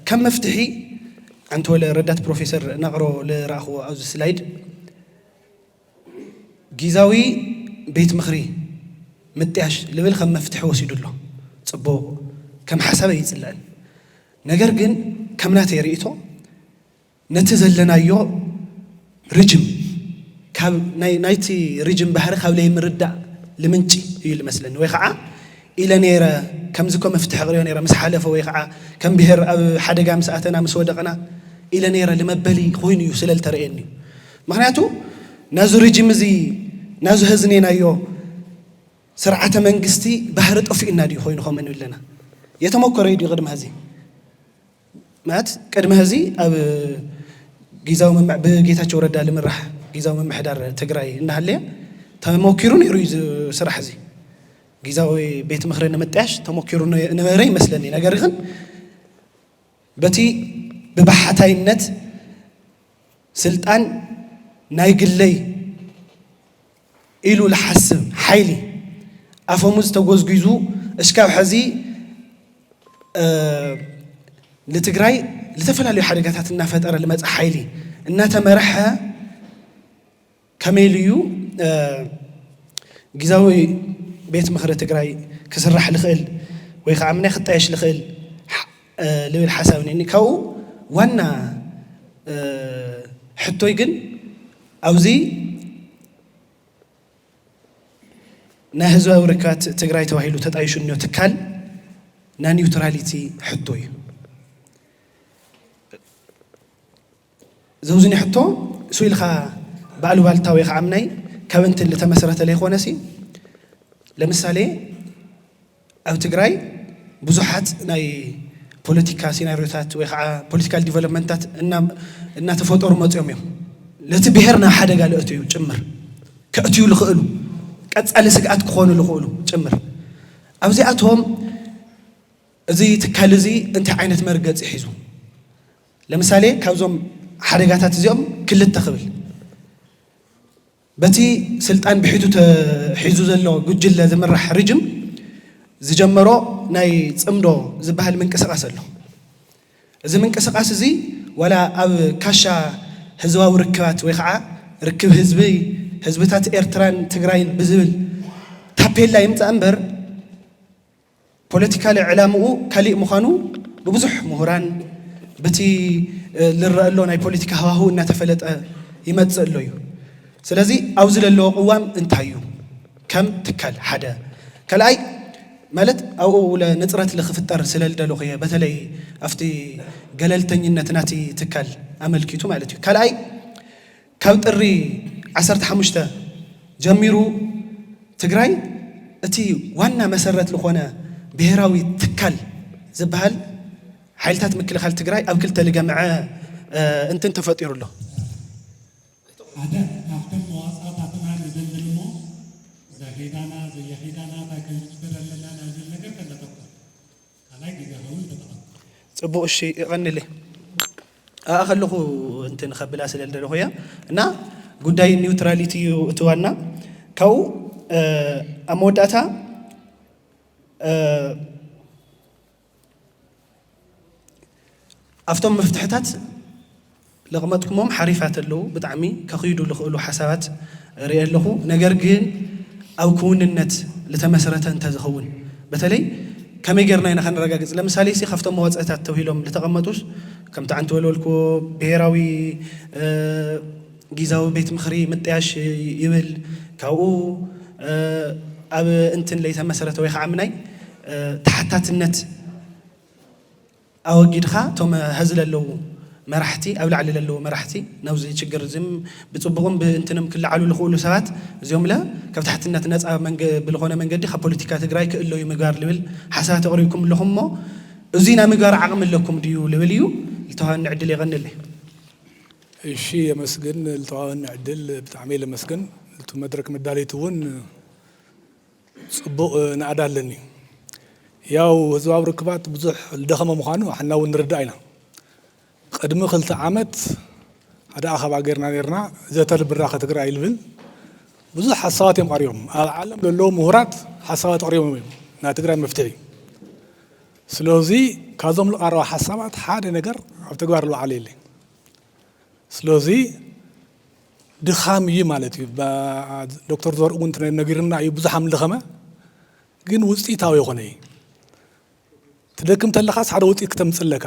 ከም መፍትሒ ኣንተ ወለ ረዳት ፕሮፌሰር ነቕሮ ልረእኽዎ ኣብዚ ስላይድ ጊዛዊ ቤት ምኽሪ ምጥያሽ ልብል ከም መፍትሒ ወሲዱ ኣሎ ጽቡቕ ከም ሓሳብ ኣይጽልእን ነገር ግን ከም ናተይ ርእይቶ ነቲ ዘለናዮ ርጅም ካብ ናይ ናይቲ ርጅም ባህሪ ካብ ለይምርዳእ ልምንጪ እዩ ልመስለኒ ወይ ኸዓ ኢለ ነይረ ከምዚ ኮ መፍትሒ ቅርዮ ነይረ ምስ ሓለፈ ወይ ኸዓ ከም ብሄር ኣብ ሓደጋ ምስ ኣተና ምስ ወደቕና ኢለ ነይረ ልመበሊ ኮይኑ እዩ ስለ ልተርእየኒ እዩ ምክንያቱ ናዙ ርጅም እዚ ናዙ ሀዝኔናዮ ስርዓተ መንግስቲ ባህሪ ጠፊኡና ድዩ ኮይኑ ከም እንብለና የተመኮረ ድዩ ቅድሚ ሀዚ ማለት ቅድሚ ሀዚ ኣብ ጊዛዊ ብጌታቸው ረዳ ልምራሕ ጊዛዊ ምምሕዳር ትግራይ እናሃለየ ተሞኪሩ ነይሩ እዩ ስራሕ እዚ ጊዛዊ ቤት ምክሪ ንምጥያሽ ተሞኪሩ ነበረ ይመስለኒ ነገር ግን በቲ ብባሕታይነት ስልጣን ናይ ግለይ ኢሉ ልሓስብ ሓይሊ ኣፈሙዝ ተጎዝጒዙ እሽካብ ሕዚ ንትግራይ ዝተፈላለዩ ሓደጋታት እናፈጠረ ልመፀ ሓይሊ እናተመርሐ ከመይ ኢሉ እዩ ጊዛዊ ቤት ምኽሪ ትግራይ ክስራሕ ልኽእል ወይ ከዓ ምናይ ክጣየሽ ልኽእል ልብል ሓሳብ እኒኒ ካብኡ ዋና ሕቶይ ግን ኣብዚ ናይ ህዝባዊ ርክባት ትግራይ ተባሂሉ ተጣይሹ እኒኦ ትካል ናይ ኒውትራሊቲ ሕቶ እዩ ዘውዝኒ ሕቶ ሱኢልካ ብኣሉባልታ ወይ ከዓ ምናይ ካብ እንትን ልተመሰረተ ለይኾነ ሲ ለምሳሌ ኣብ ትግራይ ብዙሓት ናይ ፖለቲካ ሲናሪዮታት ወይ ከዓ ፖለቲካል ዲቨሎፕመንታት እናተፈጠሩ መፅኦም እዮም ነቲ ብሄር ናብ ሓደጋ ለእትዩ ጭምር ከእትዩ ልኽእሉ ቀፃሊ ስግኣት ክኾኑ ልኽእሉ ጭምር ኣብዚኣቶም እዚ ትካል እዚ እንታይ ዓይነት መርገፂ ሒዙ ለምሳሌ ካብዞም ሓደጋታት እዚኦም ክልተ ክብል በቲ ስልጣን ብሒቱ ተሒዙ ዘሎ ጉጅለ ዝምራሕ ርጅም ዝጀመሮ ናይ ፅምዶ ዝበሃል ምንቅስቓስ ኣሎ። እዚ ምንቅስቓስ እዚ ዋላ ኣብ ካሻ ህዝባዊ ርክባት ወይ ከዓ ርክብ ህዝቢ ህዝብታት ኤርትራን ትግራይን ብዝብል ታፔላ ይምፃእ እምበር ፖለቲካሊ ዕላምኡ ካሊእ ምዃኑ ብብዙሕ ምሁራን ብቲ ልረኣሎ ናይ ፖለቲካ ሃዋህው እናተፈለጠ ይመፅእ ኣሎ እዩ። ስለዚ ኣብዚ ዘለዎ ቅዋም እንታይ እዩ ከም ትካል ሓደ ካልኣይ ማለት ኣብኡ ንፅረት ልክፍጠር ስለልደለኹ እየ በተለይ ኣብቲ ገለልተኝነት ናቲ ትካል ኣመልኪቱ ማለት እዩ ካልኣይ ካብ ጥሪ ዓሰርተ ሓሙሽተ ጀሚሩ ትግራይ እቲ ዋና መሰረት ልኾነ ብሄራዊ ትካል ዝበሃል ሓይልታት ምክልኻል ትግራይ ኣብ ክልተ ልገምዐ እንትን ተፈጢሩ ኣሎ። ሓደ ካብቶም መዋፅኣታትና ንዘንብል እሞ ዘኼዳና ዘየኼዳና ታይ ክንፅበ ኣለና ናዝብል ነገር ከነተኩር ካልኣይ ግዜ ክኸውን ተጠቐም። ጽቡቅ እሺ የቀንልይ ኣብኣ ከለኩ እንትን ከብላ ስለ ልደለኩ እያ እና ጉዳይ ኒውትራሊቲ እዩ እቲ ዋና ካብኡ ኣብ መወዳእታ ኣብቶም መፍትሕታት ለቕመጥኩሞም ሓሪፋት ኣለዉ ብጣዕሚ ከኺዱ ልኽእሉ ሓሳባት ሪኤ ኣለኹ ነገር ግን ኣብ ክውንነት ልተመስረተ እንተዝኸውን በተለይ ከመይ ጌርና ኢና ከነረጋግጽ ለምሳሌ ሲ ካብቶም መዋጽእታት ተብሂሎም ልተቐመጡስ ከምቲ ዓንት ወልወልክዎ ብሄራዊ ጊዛዊ ቤት ምኽሪ ምጥያሽ ይብል ካብኡ ኣብ እንትን ለይተመስረተ ወይ ኻዓ ምናይ ተሓታትነት ኣወጊድካ እቶም ሀዚ ለለዉ መራሕቲ ኣብ ላዕሊ ለለዉ መራሕቲ ናብዚ ችግር እዚም ብፅቡቕም ብእንትንም ክለዓሉ ልኽእሉ ሰባት እዚኦም ለ ካብ ታሕትነት ነፃ ብልኾነ መንገዲ ካብ ፖለቲካ ትግራይ ክእለዩ ምግባር ልብል ሓሳባት ኣቕሪብኩም ኣለኹም እሞ እዙይ ናይ ምግባር ዓቕሚ ኣለኩም ድዩ ልብል እዩ ልተዋኒ ዕድል የቐንለይ። እሺ የመስግን ልተዋኒ ዕድል ብጣዕመይ ለመስግን ልቱ መድረክ መዳለይቲ እውን ጽቡቕ ናእዳ ኣለኒ። ያው ህዝባዊ ርክባት ብዙሕ ልደኸመ ምዃኑ ኣሕና እውን ንርዳእ ኢና። ቕድሚ ክልተ ዓመት ሓደ ኣኸባ ገርና ነርና ዘተ ልብራኸ ትግራይ ልብል ብዙሕ ሓሳባት እዮም ቐሪቦም። ኣብ ዓለም ለለዉ ምሁራት ሓሳባት ኣቕሪቦም እዮም ናይ ትግራይ መፍትሒ። ስለዙይ ካብዞም ልቐረባ ሓሳባት ሓደ ነገር ኣብ ተግባር ልውዓለ የለይ። ስለዚ ድኻም እዩ ማለት እዩ። ዶክተር ዘርኡ እውን ነጊርና እዩ ብዙሕ ኣምልኸመ ግን ውፅኢታዊ የኾነ እዩ። ትደክም ተለኻስ ሓደ ውፅኢት ክተምፅእ ኣለካ።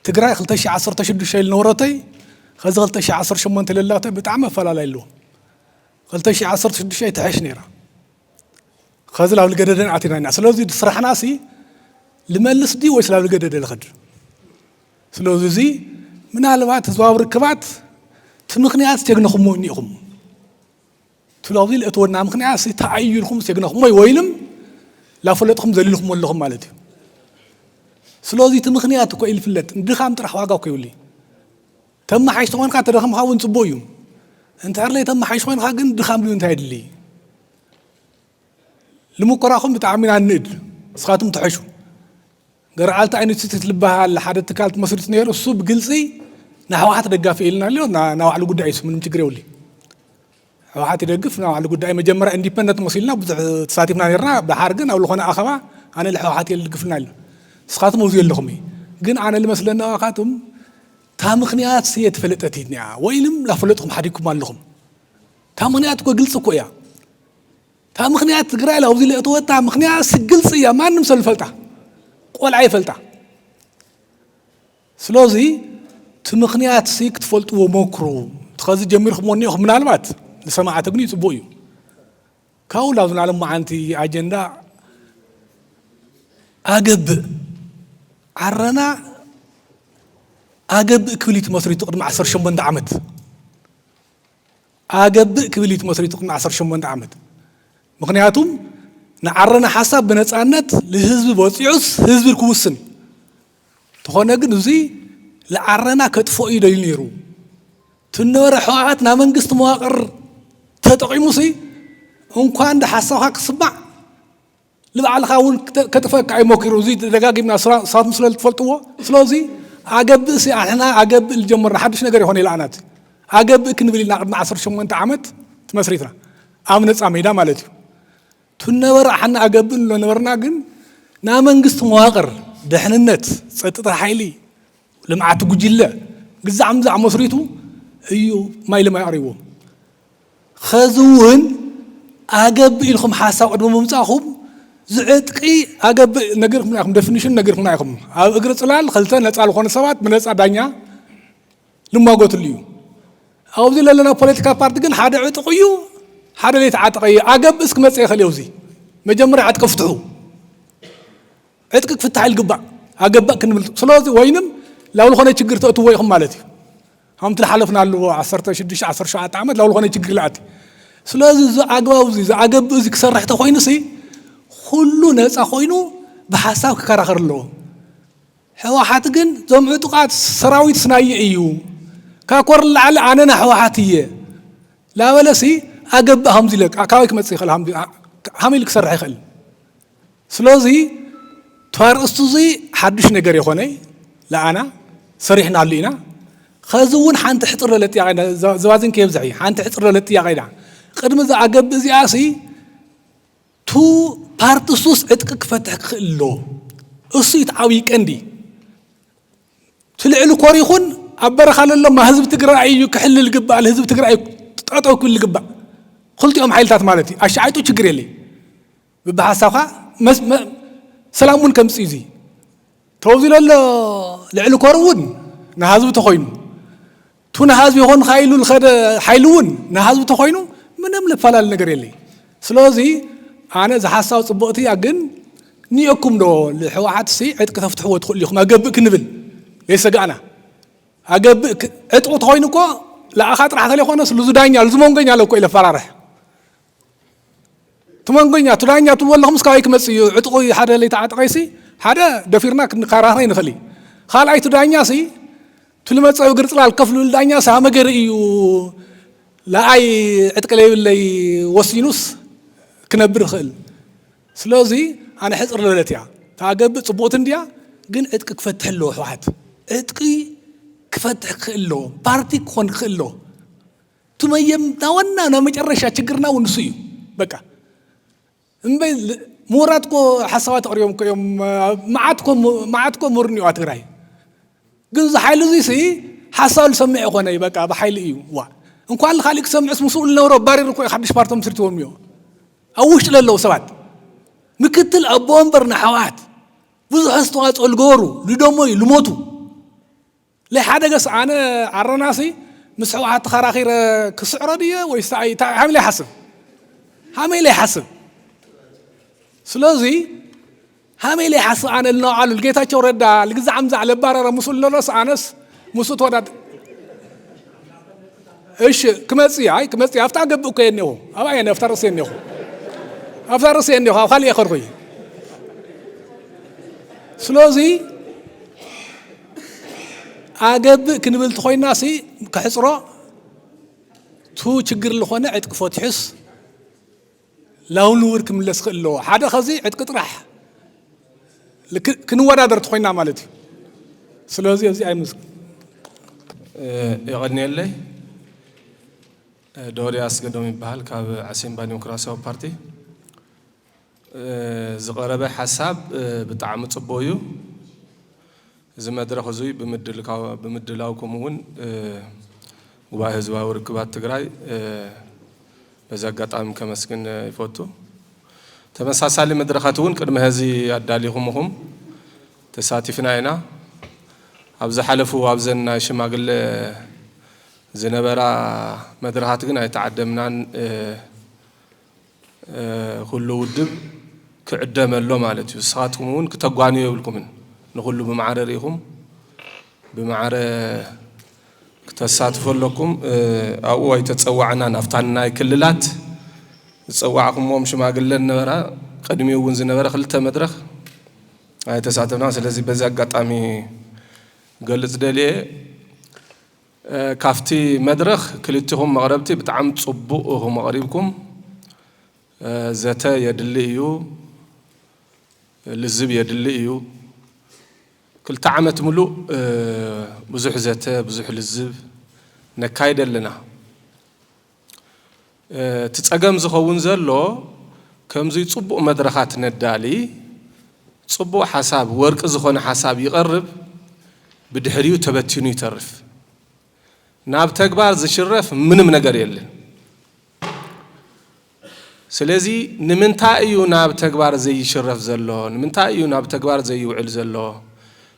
ትግራይ 2016 ልነበረተይ ከዚ 2018 ለላተይ ብጣዕሚ ኣፈላላይ ኣለዎ። 2016 ትሐሽ ነይራ። ኸዚ ላብ ልገደደን ኣቲና ኢና ስለዚ ስራሕና ሲ ልመልስ ድዩ ወይስ ላብ ልገደደ ልኸድ ስለዚ እዚ ምናልባት ህዝባዊ ርክባት እቲ ምክንያት ሴግነኹሞ እኒኢኹም ትላብዚ ልእትወና ምክንያት ሲ ተኣዩ ኢልኩም ሴግነኹሞ ወይልም ላፈለጥኹም ዘሊልኹሞ ኣለኹም ማለት እዩ ስለዚ እቲ ምክንያት እኮ ኢልፍለጥ ንድኻም ጥራሕ ዋጋ እኮ ይብሉ ተመሓይሽ ተኾንካ ተደኸምካ እውን ፅቡቅ እዩ እንተሕርለይ ተመሓይሽ ኮንካ ግን ድኻም ድዩ እንታይ የድልይ ልሙኮራኹም ብጣዕሚ ኢና እንእድ ንስኻትኩም ትሐሹ ገርዓልታ ኢንስቲትዩት ልበሃል ሓደ ትካል ትመስርት ነይሩ እሱ ብግልፂ ንሕወሓት ደጋፊ ኢልና ኣሎ ናባዕሉ ጉዳይ እሱ ምንም ችግር የብሉይ ሕወሓት ይደግፍ ናብ ባዕሉ ጉዳይ መጀመርያ ኢንዲፐንደንት መሲልና ብዙሕ ተሳቲፍና ነርና ድሓር ግን ኣብ ዝኾነ ኣኸባ ኣነ ልሕወሓት እየ ልድግፍና ኣሎ ንስኻትኩም ኣብዙ ኣለኹም እዩ ግን ኣነ ልመስለና ዋኻትም እታ ምክንያት እየ ተፈለጠት እያ ወይንም ላፈለጥኩም ሓዲግኩም ኣለኹም እታ ምክንያት እኮ ግልፂ እኮ እያ እታ ምክንያት ትግራይ ኣብዚ ለእተወታ ምክንያት ግልፂ እያ ማንም ሰብ ይፈልጣ ቆልዓ ይፈልጣ ስለዚ እቲ ምክንያት ሲ ክትፈልጥዎ ሞክሩ ከዚ ጀሚርኩምዎ እኒኹም ምናልባት ንሰማዕቲ ግን ይፅቡቅ እዩ ካብኡ ናብ ዝናለ መዓንቲ ኣጀንዳ ኣገብእ ዓረና ኣገብእ ክብል እዩ ትመስሪቱ ቅድሚ 18 ዓመት ኣገብእ ክብል እዩ ትመስሪቱ ቅድሚ ዓሰርተ ሸሞንተ ዓመት ምክንያቱም ንዓረና ሓሳብ ብነፃነት ልህዝቢ በፂዑስ ህዝቢ ክውስን ተኾነ ግን እዙይ ልዓረና ከጥፎ እዩ ደልዩ ነይሩ ትነበረ ሕወሓት ናብ መንግስቲ መዋቅር ተጠቂሙሲ እንኳን ዶ ሓሳብካ ክስማዕ ንባዕልኻ እውን ከጥፈእካ እዩ ሞኪሩ እዚ ደጋጊምና ንሳትኩም ስለ ዝትፈልጥዎ ስለዚ ኣገብእ ሲ ኣንሕና ኣገብእ ዝጀመርና ሓድሽ ነገር ይኾነ ኢላኣና እቲ ኣገብእ ክንብል ኢልና ቅድሚ ዓሰርተ ሸሞንተ ዓመት ትመስሪትና ኣብ ነፃ ሜዳ ማለት እዩ ትነበረ ኣሓና ኣገብእ ንብሎ ነበርና ግን ናይ መንግስቲ መዋቅር ድሕንነት ፀጥታ ሓይሊ ልምዓት ጉጅለ ግዛዕ ምዛዕ መስሪቱ እዩ ማይ ልማይ ኣሪዎም ኸዚ እውን ኣገብ ኢልኩም ሓሳብ ቅድሚ ምምጻእኩም ዝዕጥቂ ኣገብ ነጊርኩምና ኢኹም፣ ደፊኒሽን ነጊርኩምና ኢኹም። ኣብ እግሪ ጽላል ኸልተ ነጻ ልኾኑ ሰባት ብነጻ ዳኛ ልሟጎትሉ እዩ። ኣውዚ ለለና ፖለቲካ ፓርቲ ግን ሓደ ዕጡቕ እዩ፣ ሓደ ለይተዓጠቐ እዩ። ኣገብእስ ክመጽእ ይኸእል እዩ ኣውዚ። መጀመርያ ዕጥቂ ፍትሑ። ዕጥቂ ክፍታሕ ልግባእ ኣገባእ ክንብል ስለዚ ወይንም ላብ ልኾነ ችግር ተእትዎ ኢኹም ማለት እዩ። ከምቲ ዝሓለፍናሉ ዓሰርተ ሽዱሽተ ዓሰርተ ሸውዓተ ዓመት ናብ ዝኾነ ችግር ይኣቲ ስለዚ እዚ ኣግባብ እዚ ዝኣገብእ እዚ ክሰርሕ ተኮይኑሲ ኩሉ ነፃ ኮይኑ ብሓሳብ ክከራኸር ኣለዎ ሕወሓት ግን ዞም ዕጡቃት ሰራዊት ስናይ እዩ ካብ ኮር ላዕሊ ኣነና ሕወሓት እየ ላበለሲ ኣገብእ ከምዚ ኢለ ካበይ ክመፅእ ይኽእል ሃም- ሃመይ ኢሉ ክሰርሕ ይኽእል ስለዚ እቲ ኣርእስቲ እዚ ሓዱሽ ነገር የኾነይ ለኣና ሰሪሕናሉ ኢና። ኸዚ እውን ሓንቲ ሕፅር ዝበለ ጥያቄ ኢና ዘባዚን ከየብዝሕ እዩ ሓንቲ ሕፅር ዝበለ ጥያቄ ኢና ቅድሚ እዛ ኣገብ እዚኣ ሲ ቱ ፓርትሱስ ዕጥቂ ክፈትሕ ክኽእል ኣሎ እሱ እቲ ዓብዪ ቀንዲ እቲ ልዕሊ ኮር ይኹን ኣብ በረኻ ለሎማ ህዝቢ ትግራይ እዩ ክሕልል ግባእ ህዝቢ ትግራይ ጠጠው ክብል ግባእ ክልቲኦም ሓይልታት ማለት እዩ ኣሻዓይጡ ችግር የለይ ብብሓሳብካ ሰላም እውን ከምፅእ እዩ ተወዚሎ ኣሎ ልዕሊ ኮር እውን ንሃዝቢ ተኮይኑ ቱ ንሃዝቢ ይኮን ካይሉ ልከደ ሓይሉ እውን ንሃዝቢ ተኮይኑ ምንም ልፈላለ ነገር የለይ ስለዚ ኣነ እዚ ሓሳብ ፅቡቅቲ እያ ግን ኒኦኩም ዶ ልሕወሓት ሲ ዕጥቂ ተፍትሕዎ ትኽእሉ ኢኹም ኣገብእ ክንብል ዘይሰጋእና ኣገብእ ዕጥቂ ተኮይኑ እኮ ለኣኻ ጥራሕ ተለይኮነስ ልዙዳኛ ልዝመንጎኛ ለኮ ኢለ ፈራርሕ ትመንጎኛ ቱዳኛ ትብሉ ኣለኹምስ ካበይ ክመጽእ እዩ ዕጥቑ ሓደ ለይተዓጥቀይሲ ሓደ ደፊርና ክንከራኸ ይንኽእል እዩ ካልኣይ ቱዳኛሲ ትልመጸዊ ግርጽላል ከፍ ልብል ዳኛ ሳመገሪ እዩ ለኣይ ዕጥቂ ለይብለይ ወሲኑስ ክነብር ይኽእል ስለዚ ኣነ ሕፅር ልበለት እያ ታገብእ ፅቡቕቲ እንድያ ግን ዕጥቂ ክፈትሕ ኣለዎ ሕወሓት ዕጥቂ ክፈትሕ ክኽእል ኣለዎ ፓርቲ ክኾን ክኽእል ኣለዎ እቲ መየምታ ዋና ናይ መጨረሻ ችግርና እውን ንሱ እዩ በቃ እምበይ ምሁራት ኮ ሓሳባት ኣቕሪቦም ኮ እዮም መዓት ኮ ምሁር እኒኦ ትግራይ ግን እዚ ሓይሊ እዚ ሲ ሓሳብ ዝሰምዕ ይኾነ እዩ በቃ ብሓይሊ እዩ ዋ እንኳን ንካሊእ ክሰምዕስ ምስኡ ዝነበሮ ኣባሪሩ እኮ እዩ ሓድሽ ፓርቲ መስርትዎም እዮ ኣብ ውሽጢ ለለዉ ሰባት ምክትል ኣቦ ወንበር ንሓወሓት ብዙሕ ኣስተዋፅኦ ዝገበሩ ዝደሞዩ ዝሞቱ ለይሓደገስ ኣነ ዓረናሲ ምስ ሕውሓት ተኸራኺረ ክስዕሮ ድየ ወይስ እንታይ ሃመይ ለይሓስብ ሃመይ ለይሓስብ ስለዚ ሃመይ ለይሓስብ ኣነ ልነውዓሉ ልጌታቸው ረዳ ልግዛዕ ምዛዕ ለባረረ ምስኡ ልነረስ ኣነስ ምስኡ ተወዳድ እሺ ክመጽእ እዩ ኣይ ክመጽእ እዩ ኣብታ ገብእ እኮ እየ እኒኹ ኣብኣ እየ ኣብታ ርእሲ እየ እኒኹ ኣብታ ርእሲ እየ እኒኹ ኣብ ካልእ እየ ከድኩ እዩ ስለዚ ኣገብእ ክንብል ትኾይና ሲ ክሕፅሮ ቱ ችግር ልኾነ ዕጥቂ ፈትሑስ ላውን ንውር ክምለስ ክእል ኣለዎ ሓደ ከዚ ዕጥቂ ጥራሕ ክንወዳደር ትኾይና ማለት እዩ ስለዚ እዚ ኣይምስ የቐንየለይ ዶሪ ኣስገዶም ይበሃል ካብ ዓሲምባ ዲሞክራሲያዊ ፓርቲ ዝቀረበ ሓሳብ ብጣዕሚ ጽቡቅ እዩ እዚ መድረኽ እዙይ ብምድላውኩም እውን ጉባኤ ህዝባዊ ርክባት ትግራይ በዚ ኣጋጣሚ ከመስግን ይፈቱ። ተመሳሳሊ መድረኻት እውን ቅድሚ ሀዚ ኣዳሊኹም እኹም ተሳቲፍና ኢና። ኣብ ዝሓለፉ ኣብዘን ናይ ሽማግለ ዝነበራ መድረኻት ግን ኣይተዓደምናን። ኩሉ ውድብ ክዕደመ ኣሎ ማለት እዩ። ንስኻትኩም እውን ክተጓንዩ የብልኩምን። ንኹሉ ብማዕረ ርኢኹም ብማዕረ ክተሳትፉ ኣለኩም። ኣብኡ ኣይተፀዋዕናን። ኣብታ ናይ ክልላት ዝፀዋዕኩምዎም ሽማግለ ነበራ። ቅድሚኡ እውን ዝነበረ ክልተ መድረኽ ኣይተሳተፍናን። ስለዚ በዚ ኣጋጣሚ ክገልፅ ደልየ። ካፍቲ መድረኽ ክልቲኹም መቕረብቲ ብጣዕሚ ጽቡቕ ኢኹም ኣቕሪብኩም። ዘተ የድሊ እዩ፣ ልዝብ የድሊ እዩ። ክልተ ዓመት ምሉእ ብዙሕ ዘተ ብዙሕ ልዝብ ነካይድ ኣለና። እቲ ጸገም ዝኸውን ዘሎ ከምዙይ ጽቡቕ መድረኻት ነዳሊ፣ ጽቡቕ ሓሳብ ወርቂ ዝኾነ ሓሳብ ይቐርብ ብድሕሪኡ ተበቲኑ ይተርፍ። ናብ ተግባር ዝሽረፍ ምንም ነገር የለን። ስለዚ ንምንታይ እዩ ናብ ተግባር ዘይሽረፍ ዘሎ? ንምንታይ እዩ ናብ ተግባር ዘይውዕል ዘሎ?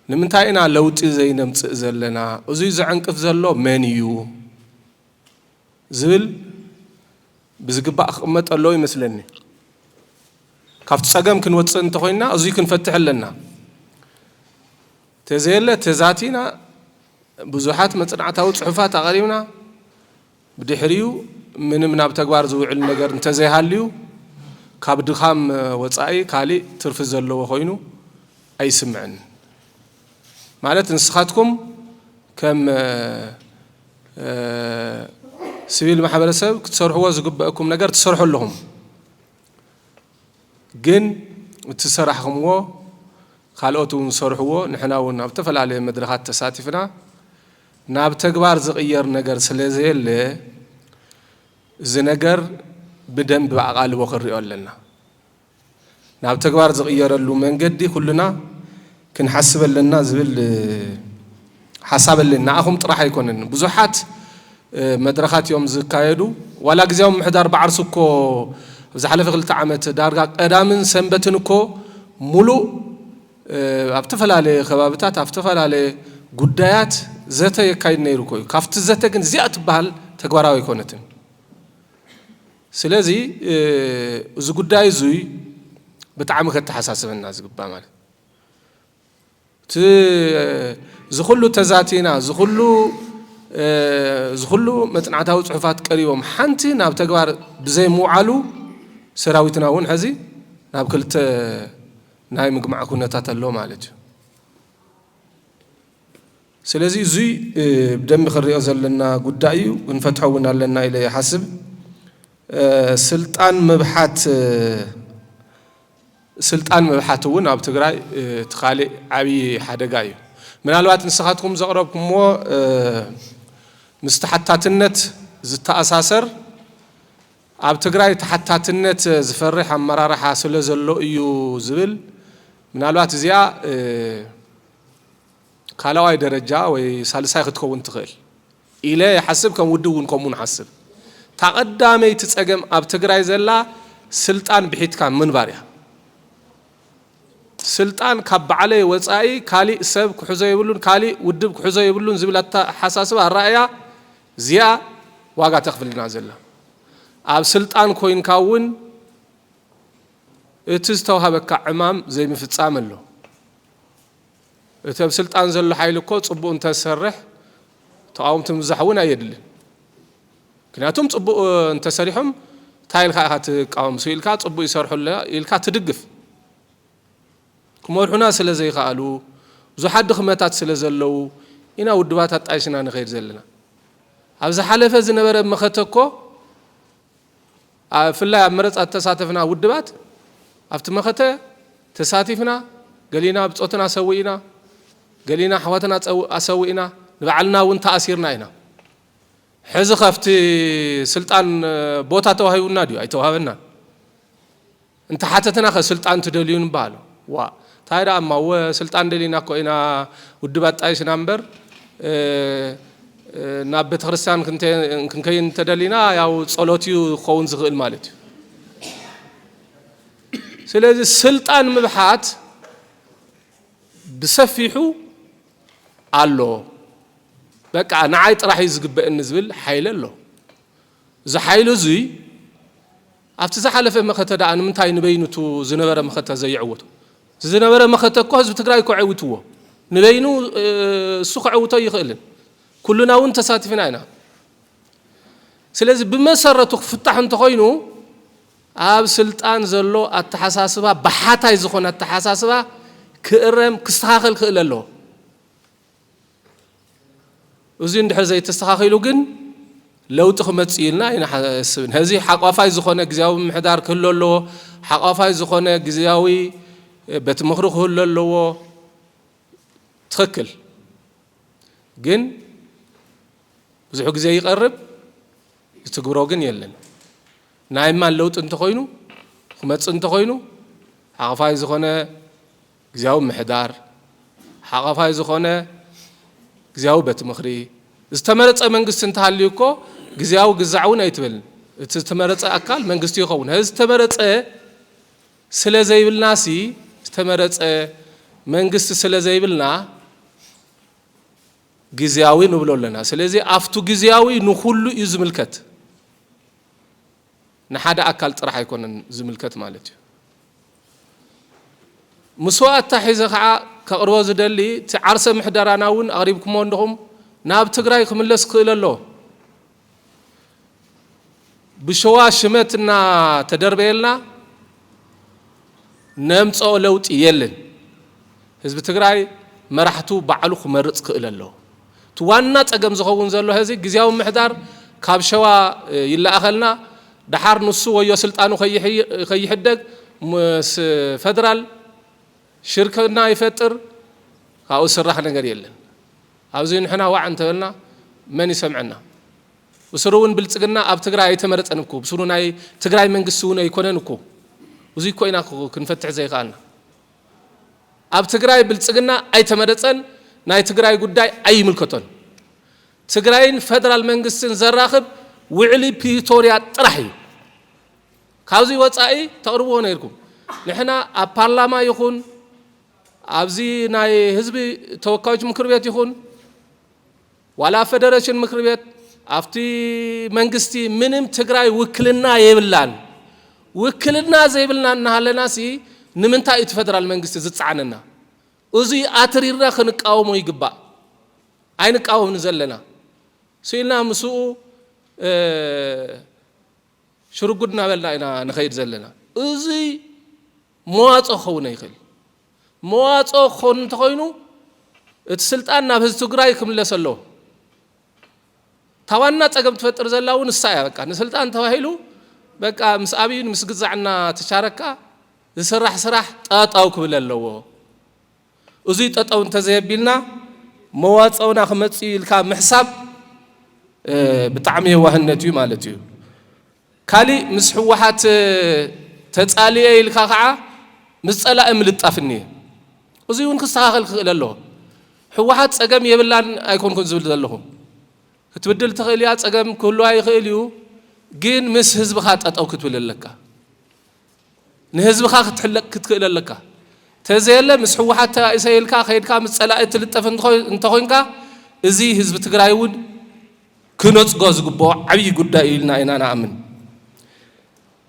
ንምንታይ ኢና ለውጢ ዘይነምጽእ ዘለና? እዙይ ዘዕንቅፍ ዘሎ መን እዩ? ዝብል ብዝግባእ ክቕመጥ ኣለዎ ይመስለኒ። ካብቲ ጸገም ክንወጽእ እንተኾይንና እዙይ ክንፈትሕ ኣለና። ተዘየለ ተዛቲና ብዙሓት መጽናዕታዊ ጽሑፋት ኣቐሪብና ብድሕሪኡ ምንም ናብ ተግባር ዝውዕል ነገር እንተዘይሃልዩ ካብ ድኻም ወጻኢ ካሊእ ትርፊ ዘለዎ ኮይኑ ኣይስምዕን። ማለት ንስኻትኩም ከም ስቪል ማሕበረሰብ ክትሰርሕዎ ዝግበእኩም ነገር ትሰርሑ ኣለኹም። ግን እቲ ዝሰራሕኹምዎ ካልኦት እውን ዝሰርሕዎ ንሕና እውን ኣብ ዝተፈላለየ መድረኻት ተሳቲፍና ናብ ተግባር ዝቕየር ነገር ስለ ዘየለ እዚ ነገር ብደንብ ኣቓልቦ ክንሪኦ ኣለና። ናብ ተግባር ዝቕየረሉ መንገዲ ኩልና ክንሓስብ ኣለና ዝብል ሓሳብ ኣለኒ። ንኣኹም ጥራሕ ኣይኮነን ብዙሓት መድረኻት እዮም ዝካየዱ። ዋላ ግዝያዊ ምምሕዳር ብዓርሱ እኮ ኣብ ዝሓለፈ ክልተ ዓመት ዳርጋ ቀዳምን ሰንበትን እኮ ሙሉእ ኣብ ዝተፈላለየ ከባብታት ኣብ ዝተፈላለየ ጉዳያት ዘተ የካይድ ነይሩ እኮ እዩ። ካብቲ ዘተ ግን እዚኣ ትበሃል ተግባራዊ ኣይኮነትን። ስለዚ እዚ ጉዳይ እዙይ ብጣዕሚ ከተሓሳስበና ዝግባ ማለት እቲ ዝኹሉ ተዛቲና ዝኹሉ ዝኹሉ መፅናዕታዊ ፅሑፋት ቀሪቦም ሓንቲ ናብ ተግባር ብዘይምውዓሉ ሰራዊትና እውን ሕዚ ናብ ክልተ ናይ ምግማዕ ኩነታት ኣሎ ማለት እዩ። ስለዚ እዙይ ብደንቢ ክንሪኦ ዘለና ጉዳይ እዩ፣ ክንፈትሖ እውን ኣለና ኢለ ይሓስብ። ስልጣን ምብሓት ስልጣን ምብሓት እውን ኣብ ትግራይ እቲ ካሊእ ዓብዪ ሓደጋ እዩ። ምናልባት ንስኻትኩም ዘቕረብኩምዎ ምስ ተሓታትነት ዝተኣሳሰር ኣብ ትግራይ ተሓታትነት ዝፈርሕ ኣመራርሓ ስለ ዘሎ እዩ ዝብል ምናልባት እዚኣ ካልኣዋይ ደረጃ ወይ ሳልሳይ ክትከውን ትኽእል ኢለ ይሓስብ ከም ውድብ እውን ከምኡ ንሓስብ እታ ቀዳመይቲ ፀገም ኣብ ትግራይ ዘላ ስልጣን ብሒትካ ምንባር እያ ስልጣን ካብ ባዕለይ ወፃኢ ካሊእ ሰብ ክሕዞ የብሉን ካሊእ ውድብ ክሕዞ የብሉን ዝብል ኣተሓሳስባ ኣራእያ እዚኣ ዋጋ ተኽፍልና ዘላ ኣብ ስልጣን ኮይንካ እውን እቲ ዝተዋሃበካ ዕማም ዘይምፍፃም ኣሎ እቲ ኣብ ስልጣን ዘሎ ሓይሊ እኮ ፅቡቅ እንተዝሰርሕ ተቃወምቲ ምብዛሕ እውን ኣየድልን ምክንያቱም ፅቡቅ እንተሰሪሖም እንታይ ኢልካ ኢካ ትቃወም ሱ ኢልካ ፅቡቅ ይሰርሑ ኣለና ኢልካ ትድግፍ ክመርሑና ስለ ዘይከኣሉ ብዙሓት ድኽመታት ስለ ዘለዉ ኢና ውድባት ኣጣይሽና ንኸይድ ዘለና ኣብ ዝሓለፈ ዝነበረ መኸተ እኮ ኣብፍላይ ኣብ መረጻ ዝተሳተፍና ውድባት ኣብቲ መኸተ ተሳቲፍና ገሊና ብጾትና ሰዊእና ገሊና ኣሕዋትና ኣሰዊእና ንባዕልና እውን ተኣሲርና ኢና ሕዚ ከፍቲ ስልጣን ቦታ ተዋሂቡና ድዩ ኣይተዋህበናን እንተሓተትናኸ ስልጣን ትደልዩ ንበሃሎ። ዋእ ታይ ደኣ እማ እወ ስልጣን ደሊና እኮ ኢና ውድብ ኣጣይሽና እምበር ናብ ቤተክርስትያን ክንከይድ እንተደሊና ያው ጸሎት እዩ ክኸውን ዝኽእል ማለት እዩ። ስለዚ ስልጣን ምብሓት ብሰፊሑ ኣሎ። በቃ ንዓይ ጥራሕ እዩ ዝግበእኒ ዝብል ሓይሊ ኣሎ። እዚ ሓይሊ እዙይ ኣብቲ ዝሓለፈ መኸተ ደኣ ንምንታይ ንበይኑ እቱ ዝነበረ መኸተ ዘይዐወቶ? እቲ ዝነበረ መኸተ እኮ ህዝቢ ትግራይ እኮ ዐዊትዎ። ንበይኑ እሱ ከዐውቶ ኣይኽእልን። ኩሉና እውን ተሳቲፍና ኢና። ስለዚ ብመሰረቱ ክፍታሕ እንተኾይኑ ኣብ ስልጣን ዘሎ ኣተሓሳስባ በሓታይ ዝኾነ ኣተሓሳስባ ክእረም ክስተኻኸል ክእል ኣለዎ። እዙይ እንድሕር ዘይተስተኻኺሉ ግን ለውጢ ክመፅእ እዩ ኢልና ኣይንሓስብን። ሕዚ ሓቋፋይ ዝኾነ ግዜያዊ ምምሕዳር ክህሉ ኣለዎ። ሓቋፋይ ዝኾነ ግዜያዊ ቤት ምኽሪ ክህሉ ኣለዎ። ትኽክል ግን ብዙሕ ግዜ ይቐርብ ዝትግብሮ ግን የለን። ናይ ማን ለውጢ እንተኾይኑ ክመፅእ እንተኾይኑ ሓቋፋይ ዝኾነ ግዝያዊ ምምሕዳር ሓቛፋይ ዝኾነ ግዝያዊ ቤት ምኽሪ፣ ዝተመረፀ መንግስቲ እንተሃልዩ እኮ ግዝያዊ ግዛዕ እውን ኣይትበልን። እቲ ዝተመረፀ ኣካል መንግስቲ ይኸውን። ሀዚ ዝተመረፀ ስለዘይብልና ሲ ዝተመረፀ መንግስቲ ስለዘይብልና ግዝያዊ ንብሎ ኣለና። ስለዚ ኣፍቱ ግዝያዊ ንኹሉ እዩ ዝምልከት። ንሓደ ኣካል ጥራሕ ኣይኮነን ዝምልከት ማለት እዩ። ምስኡ ኣተሓሒዘ ከዓ ከቕርቦ ዝደሊ እቲ ዓርሰ ምሕደራና እውን ኣቕሪብኩምዎ እንዲኹም ናብ ትግራይ ክምለስ ክኽእል ኣለዎ። ብሸዋ ሽመት እናተደርበየልና ነምፀኦ ለውጢ የልን ህዝቢ ትግራይ መራሕቱ ባዕሉ ክመርፅ ክእል ኣለዎ እቲ ዋና ፀገም ዝኸውን ዘሎ ሀዚ ግዜያዊ ምሕዳር ካብ ሸዋ ይለኣኸልና ደሓር ንሱ ወዮ ስልጣኑ ከይሕደግ ምስ ፈደራል ሽርክና ይፈጥር ካብኡ ዝስራሕ ነገር የለን ኣብዚ ንሕና ዋዕ እንተበልና መን ይሰምዐና ብስሩ እውን ብልፅግና ኣብ ትግራይ ኣይተመረፀን እኮ ብስሩ ናይ ትግራይ መንግስቲ እውን ኣይኮነን እኮ እዙይ እኮ ኢና ክንፈትሕ ዘይከኣልና ኣብ ትግራይ ብልፅግና ኣይተመረፀን ናይ ትግራይ ጉዳይ ኣይምልከቶን ትግራይን ፈደራል መንግስትን ዘራኽብ ውዕሊ ፕሪቶርያ ጥራሕ እዩ ካብዚ ወፃኢ ተቕርብዎ ነይርኩም ንሕና ኣብ ፓርላማ ይኹን ኣብዚ ናይ ህዝቢ ተወካዮች ምክር ቤት ይኹን ዋላ ፈደረሽን ምክር ቤት ኣብቲ መንግስቲ ምንም ትግራይ ውክልና የብላን። ውክልና ዘይብልና እናሃለናሲ ንምንታይ እዩ እቲ ፈደራል መንግስቲ ዝፀዓነና? እዙይ ኣትሪርና ክንቃወሞ ይግባእ። ኣይንቃወምን ዘለና ስኢልና ምስኡ ሽርጉድ እናበልና ኢና ንኸይድ ዘለና። እዙይ መዋፅኦ ክኸውን ኣይኽእል። መዋፅኦ ክኾኑ እንተኾይኑ እቲ ስልጣን ናብ ህዝቢ ትግራይ ክምለስ ኣለዎ። እታ ዋና ፀገም ትፈጥር ዘላ እውን እሳ እያ። በቃ ንስልጣን ተባሂሉ በቃ ምስ ኣብይን ምስ ግዛዕና ተቻረካ ዝስራሕ ስራሕ ጠጠው ክብል ኣለዎ። እዙይ ጠጠው እንተዘየቢልና መዋፀኡና ክመፅእ ኢልካ ምሕሳብ ብጣዕሚ የዋህነት እዩ ማለት እዩ። ካሊእ ምስ ህወሓት ተፃልየ ኢልካ ከዓ ምስ ፀላኢ ምልጣፍ እኒሀ። እዙይ እውን ክስተኻኸል ክኽእል ኣለዎ። ህወሓት ፀገም የብላን ኣይኮንኩን ዝብል ዘለኹ። ክትብድል ትኽእል እያ፣ ፀገም ክህልዋ ይኽእል እዩ፣ ግን ምስ ህዝብኻ ጠጠው ክትብል ኣለካ። ንህዝብኻ ክትሕለቅ ክትክእል ኣለካ ተዘየለ ምስ ሕወሓት ተባኢሰ ኢልካ ከይድካ ምስ ፀላኢ ትልጠፍ እንተኾይንካ እዚ ህዝቢ ትግራይ እውን ክነፅጎ ዝግብኦ ዓብዪ ጉዳይ እዩ ኢልና ኢና ንኣምን።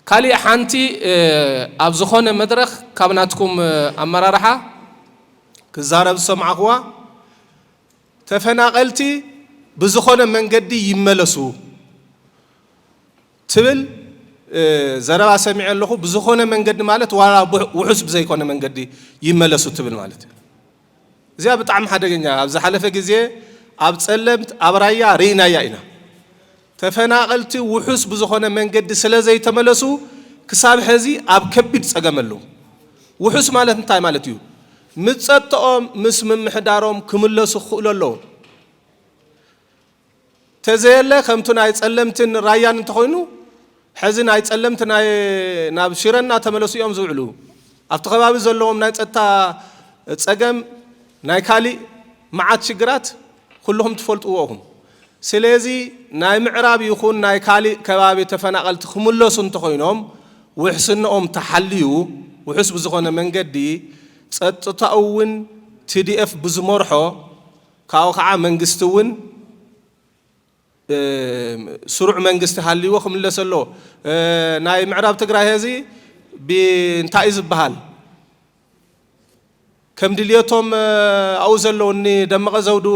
ካሊእ ሓንቲ ኣብ ዝኾነ መድረኽ ካብ ናትኩም ኣመራርሓ ክዛረብ ዝሰማዕኹዋ ተፈናቀልቲ ብዝኾነ መንገዲ ይመለሱ ትብል ዘረባ ሰሚዐ ኣለኹ። ብዝኾነ መንገዲ ማለት ዋላ ውሑስ ብዘይኮነ መንገዲ ይመለሱ ትብል ማለት እዩ። እዚኣ ብጣዕሚ ሓደገኛ ኣብ ዝሓለፈ ግዜ ኣብ ጸለምት ኣብ ራያ ርኢናያ ኢና። ተፈናቐልቲ ውሑስ ብዝኾነ መንገዲ ስለ ዘይተመለሱ ክሳብ ሕዚ ኣብ ከቢድ ጸገም ኣለዉ። ውሑስ ማለት እንታይ ማለት እዩ? ምጸጥኦም ምስ ምምሕዳሮም ክምለሱ ክኽእሉ ኣለዎም። ተዘየለ ከምቲ ናይ ጸለምትን ራያን እንተኾይኑ ሕዚ ናይ ጸለምቲ ናይ ናብ ሽረ እናተመለሱ እዮም ዝውዕሉ። ኣብቲ ከባቢ ዘለዎም ናይ ጸጥታ ጸገም ናይ ካሊእ መዓት ሽግራት ኩልኹም ትፈልጥዎ እኹም። ስለዚ ናይ ምዕራብ ይኹን ናይ ካሊእ ከባቢ ተፈናቐልቲ ክምለሱ እንተኾይኖም ውሕስነኦም ተሓልዩ ውሑስ ብዝኾነ መንገዲ ጸጥታኡ እውን TDF ብዝመርሖ ካብኡ ከዓ መንግስቲ እውን ስሩዕ መንግስቲ ሃልይዎ ክምለስ ኣለዎ። ናይ ምዕራብ ትግራይ ሀዚ ብ እንታይ እዩ ዝበሃል ከም ድልየቶም ኣብኡ ዘለዉ እኒ ደመቀ ዘውዱ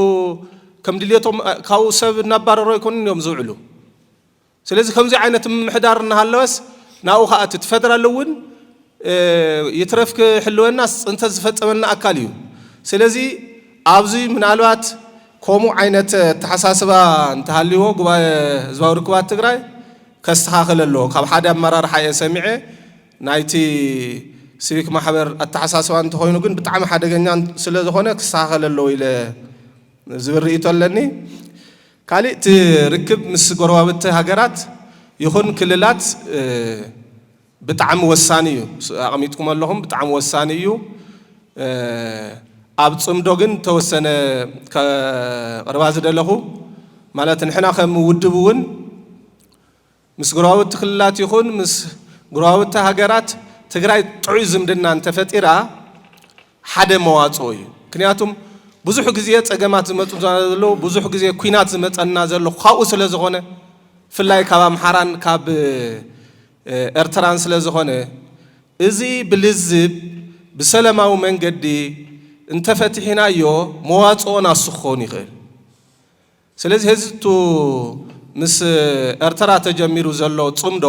ከም ድልየቶም ካብኡ ሰብ እናባረሩ ኣይኮኑን እዮም ዝውዕሉ። ስለዚ ከምዚ ዓይነት ምምሕዳር እናሃለወስ ናብኡ ከኣ እቲ ፈደራል እውን ይትረፍ ክሕልወናስ ፅንተት ዝፈፀመና ኣካል እዩ። ስለዚ ኣብዚ ምናልባት ከምኡ ዓይነት ኣተሓሳስባ እንተሃልይዎ ጉባኤ ህዝባዊ ርክባት ትግራይ ከስተኻኽል ኣለዎ። ካብ ሓደ ኣመራርሓ እየ ሰሚዐ ናይቲ ሲቪክ ማሕበር ኣተሓሳስባ እንተኾይኑ ግን ብጣዕሚ ሓደገኛ ስለዝኾነ ክስተኻኸል ኣለዎ ኢለ ዝብል ርእይቶ ኣለኒ። ካሊእ እቲ ርክብ ምስ ጎረባብቲ ሃገራት ይኹን ክልላት ብጣዕሚ ወሳኒ እዩ። ኣቕሚጥኩሞ ኣለኹም ብጣዕሚ ወሳኒ እዩ። ኣብ ፅምዶ ግን ተወሰነ ከቕርባ ዝደለኹ ማለት ንሕና ከም ውድብ እውን ምስ ጎረባብቲ ክልላት ይኹን ምስ ጎረባብቲ ሃገራት ትግራይ ጥዑይ ዝምድና እንተፈጢራ ሓደ መዋፅኦ እዩ። ምክንያቱም ብዙሕ ግዜ ፀገማት ዝመፁና ዘለዉ ብዙሕ ግዜ ኩናት ዝመፀና ዘሎ ካብኡ ስለዝኾነ ብፍላይ ካብ ኣምሓራን ካብ ኤርትራን ስለዝኾነ እዚ ብልዝብ ብሰለማዊ መንገዲ እንተፈቲሕናዮ መዋፅኦ ናሱ ክኸውን ይኽእል። ስለዚ ህዝቱ ምስ ኤርትራ ተጀሚሩ ዘሎ ጽምዶ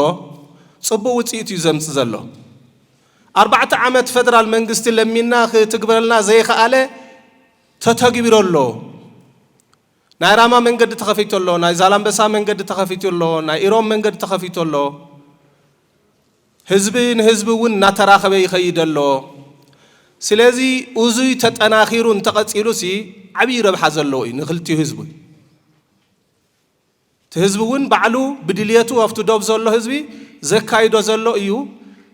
ጽቡቅ ውጽኢት እዩ ዘምጽ ዘሎ። ኣርባዕተ ዓመት ፈደራል መንግስቲ ለሚንና ክትግብረልና ዘይኸኣለ ተተግቢሩ ኣሎ። ናይ ራማ መንገዲ ተኸፊቱ ኣሎ፣ ናይ ዛላምበሳ መንገዲ ተኸፊቱ ኣሎ፣ ናይ ኢሮብ መንገዲ ተኸፊቱ ኣሎ። ህዝቢ ንህዝቢ እውን እናተራኸበ ይኸይድ ኣሎ። ስለዚ እዙይ ተጠናኺሩ እንተቐፂሉሲ ዓብዪ ረብሓ ዘለዎ እዩ ንክልቲኡ ህዝቢ። እቲ ህዝቢ እውን ባዕሉ ብድልየቱ ኣብቲ ዶብ ዘሎ ህዝቢ ዘካይዶ ዘሎ እዩ።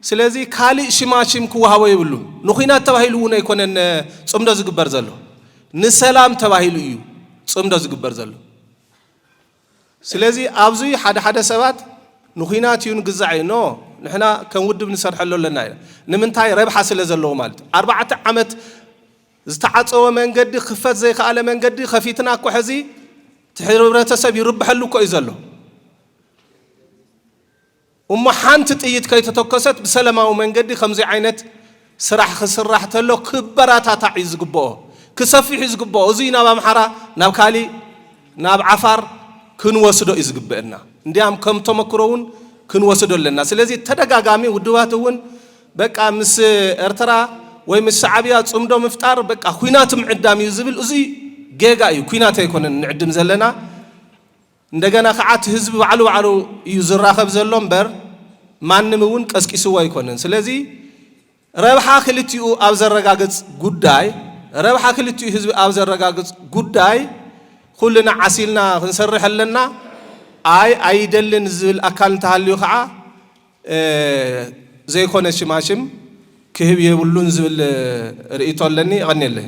ስለዚ ካሊእ ሽማሽም ክወሃቦ የብሉን። ንኹናት ተባሂሉ እውን ኣይኮነን ፅምዶ ዝግበር ዘሎ ንሰላም ተባሂሉ እዩ ፅምዶ ዝግበር ዘሎ። ስለዚ ኣብዚ ሓደ ሓደ ሰባት ንኩናት እዩ ንግዛዕ እዩ ኖ ንሕና ከም ውድብ ንሰርሐሉ ኣለና ኢና ንምንታይ ረብሓ ስለ ዘለዎ ማለት እዩ ኣርባዕተ ዓመት ዝተዓፀወ መንገዲ ክፈት ዘይከኣለ መንገዲ ከፊትና እኮ ሕዚ እቲ ሕብረተሰብ ይርብሐሉ እኮ እዩ ዘሎ እሞ ሓንቲ ጥይት ከይተተኮሰት ብሰለማዊ መንገዲ ከምዙይ ዓይነት ስራሕ ክስራሕ ተሎ ክበራታታዕ እዩ ዝግበኦ ክሰፊሕ እዩ ዝግበኦ እዙይ ናብ ኣምሓራ ናብ ካሊእ ናብ ዓፋር ክንወስዶ እዩ ዝግበእና እንዲያም ከም ተመክሮ እውን ክንወስዶ ኣለና ስለዚ ተደጋጋሚ ውድባት እውን በቃ ምስ ኤርትራ ወይ ምስ ሻዕብያ ፅምዶ ምፍጣር በቃ ኩናት ምዕዳም እዩ ዝብል እዙይ ጌጋ እዩ ኩናት ኣይኮነን ንዕድም ዘለና እንደገና ክዓ እቲ ህዝቢ ባዕሉ ባዕሉ እዩ ዝራኸብ ዘሎ እምበር ማንም እውን ቀስቂስዎ ኣይኮነን። ስለዚ ረብሓ ክልቲኡ ኣብ ዘረጋግፅ ጉዳይ ረብሓ ክልቲኡ ህዝቢ ኣብ ዘረጋግፅ ጉዳይ ኹልና ዓሲልና ክንሰርሕ ኣለና። ኣይ ኣይደልን ዝብል ኣካል እንተሃልዩ ከዓ ዘይኮነ ሽማሽም ክህብ የብሉን ዝብል ርእይቶ ኣለኒ። የቐኔለይ።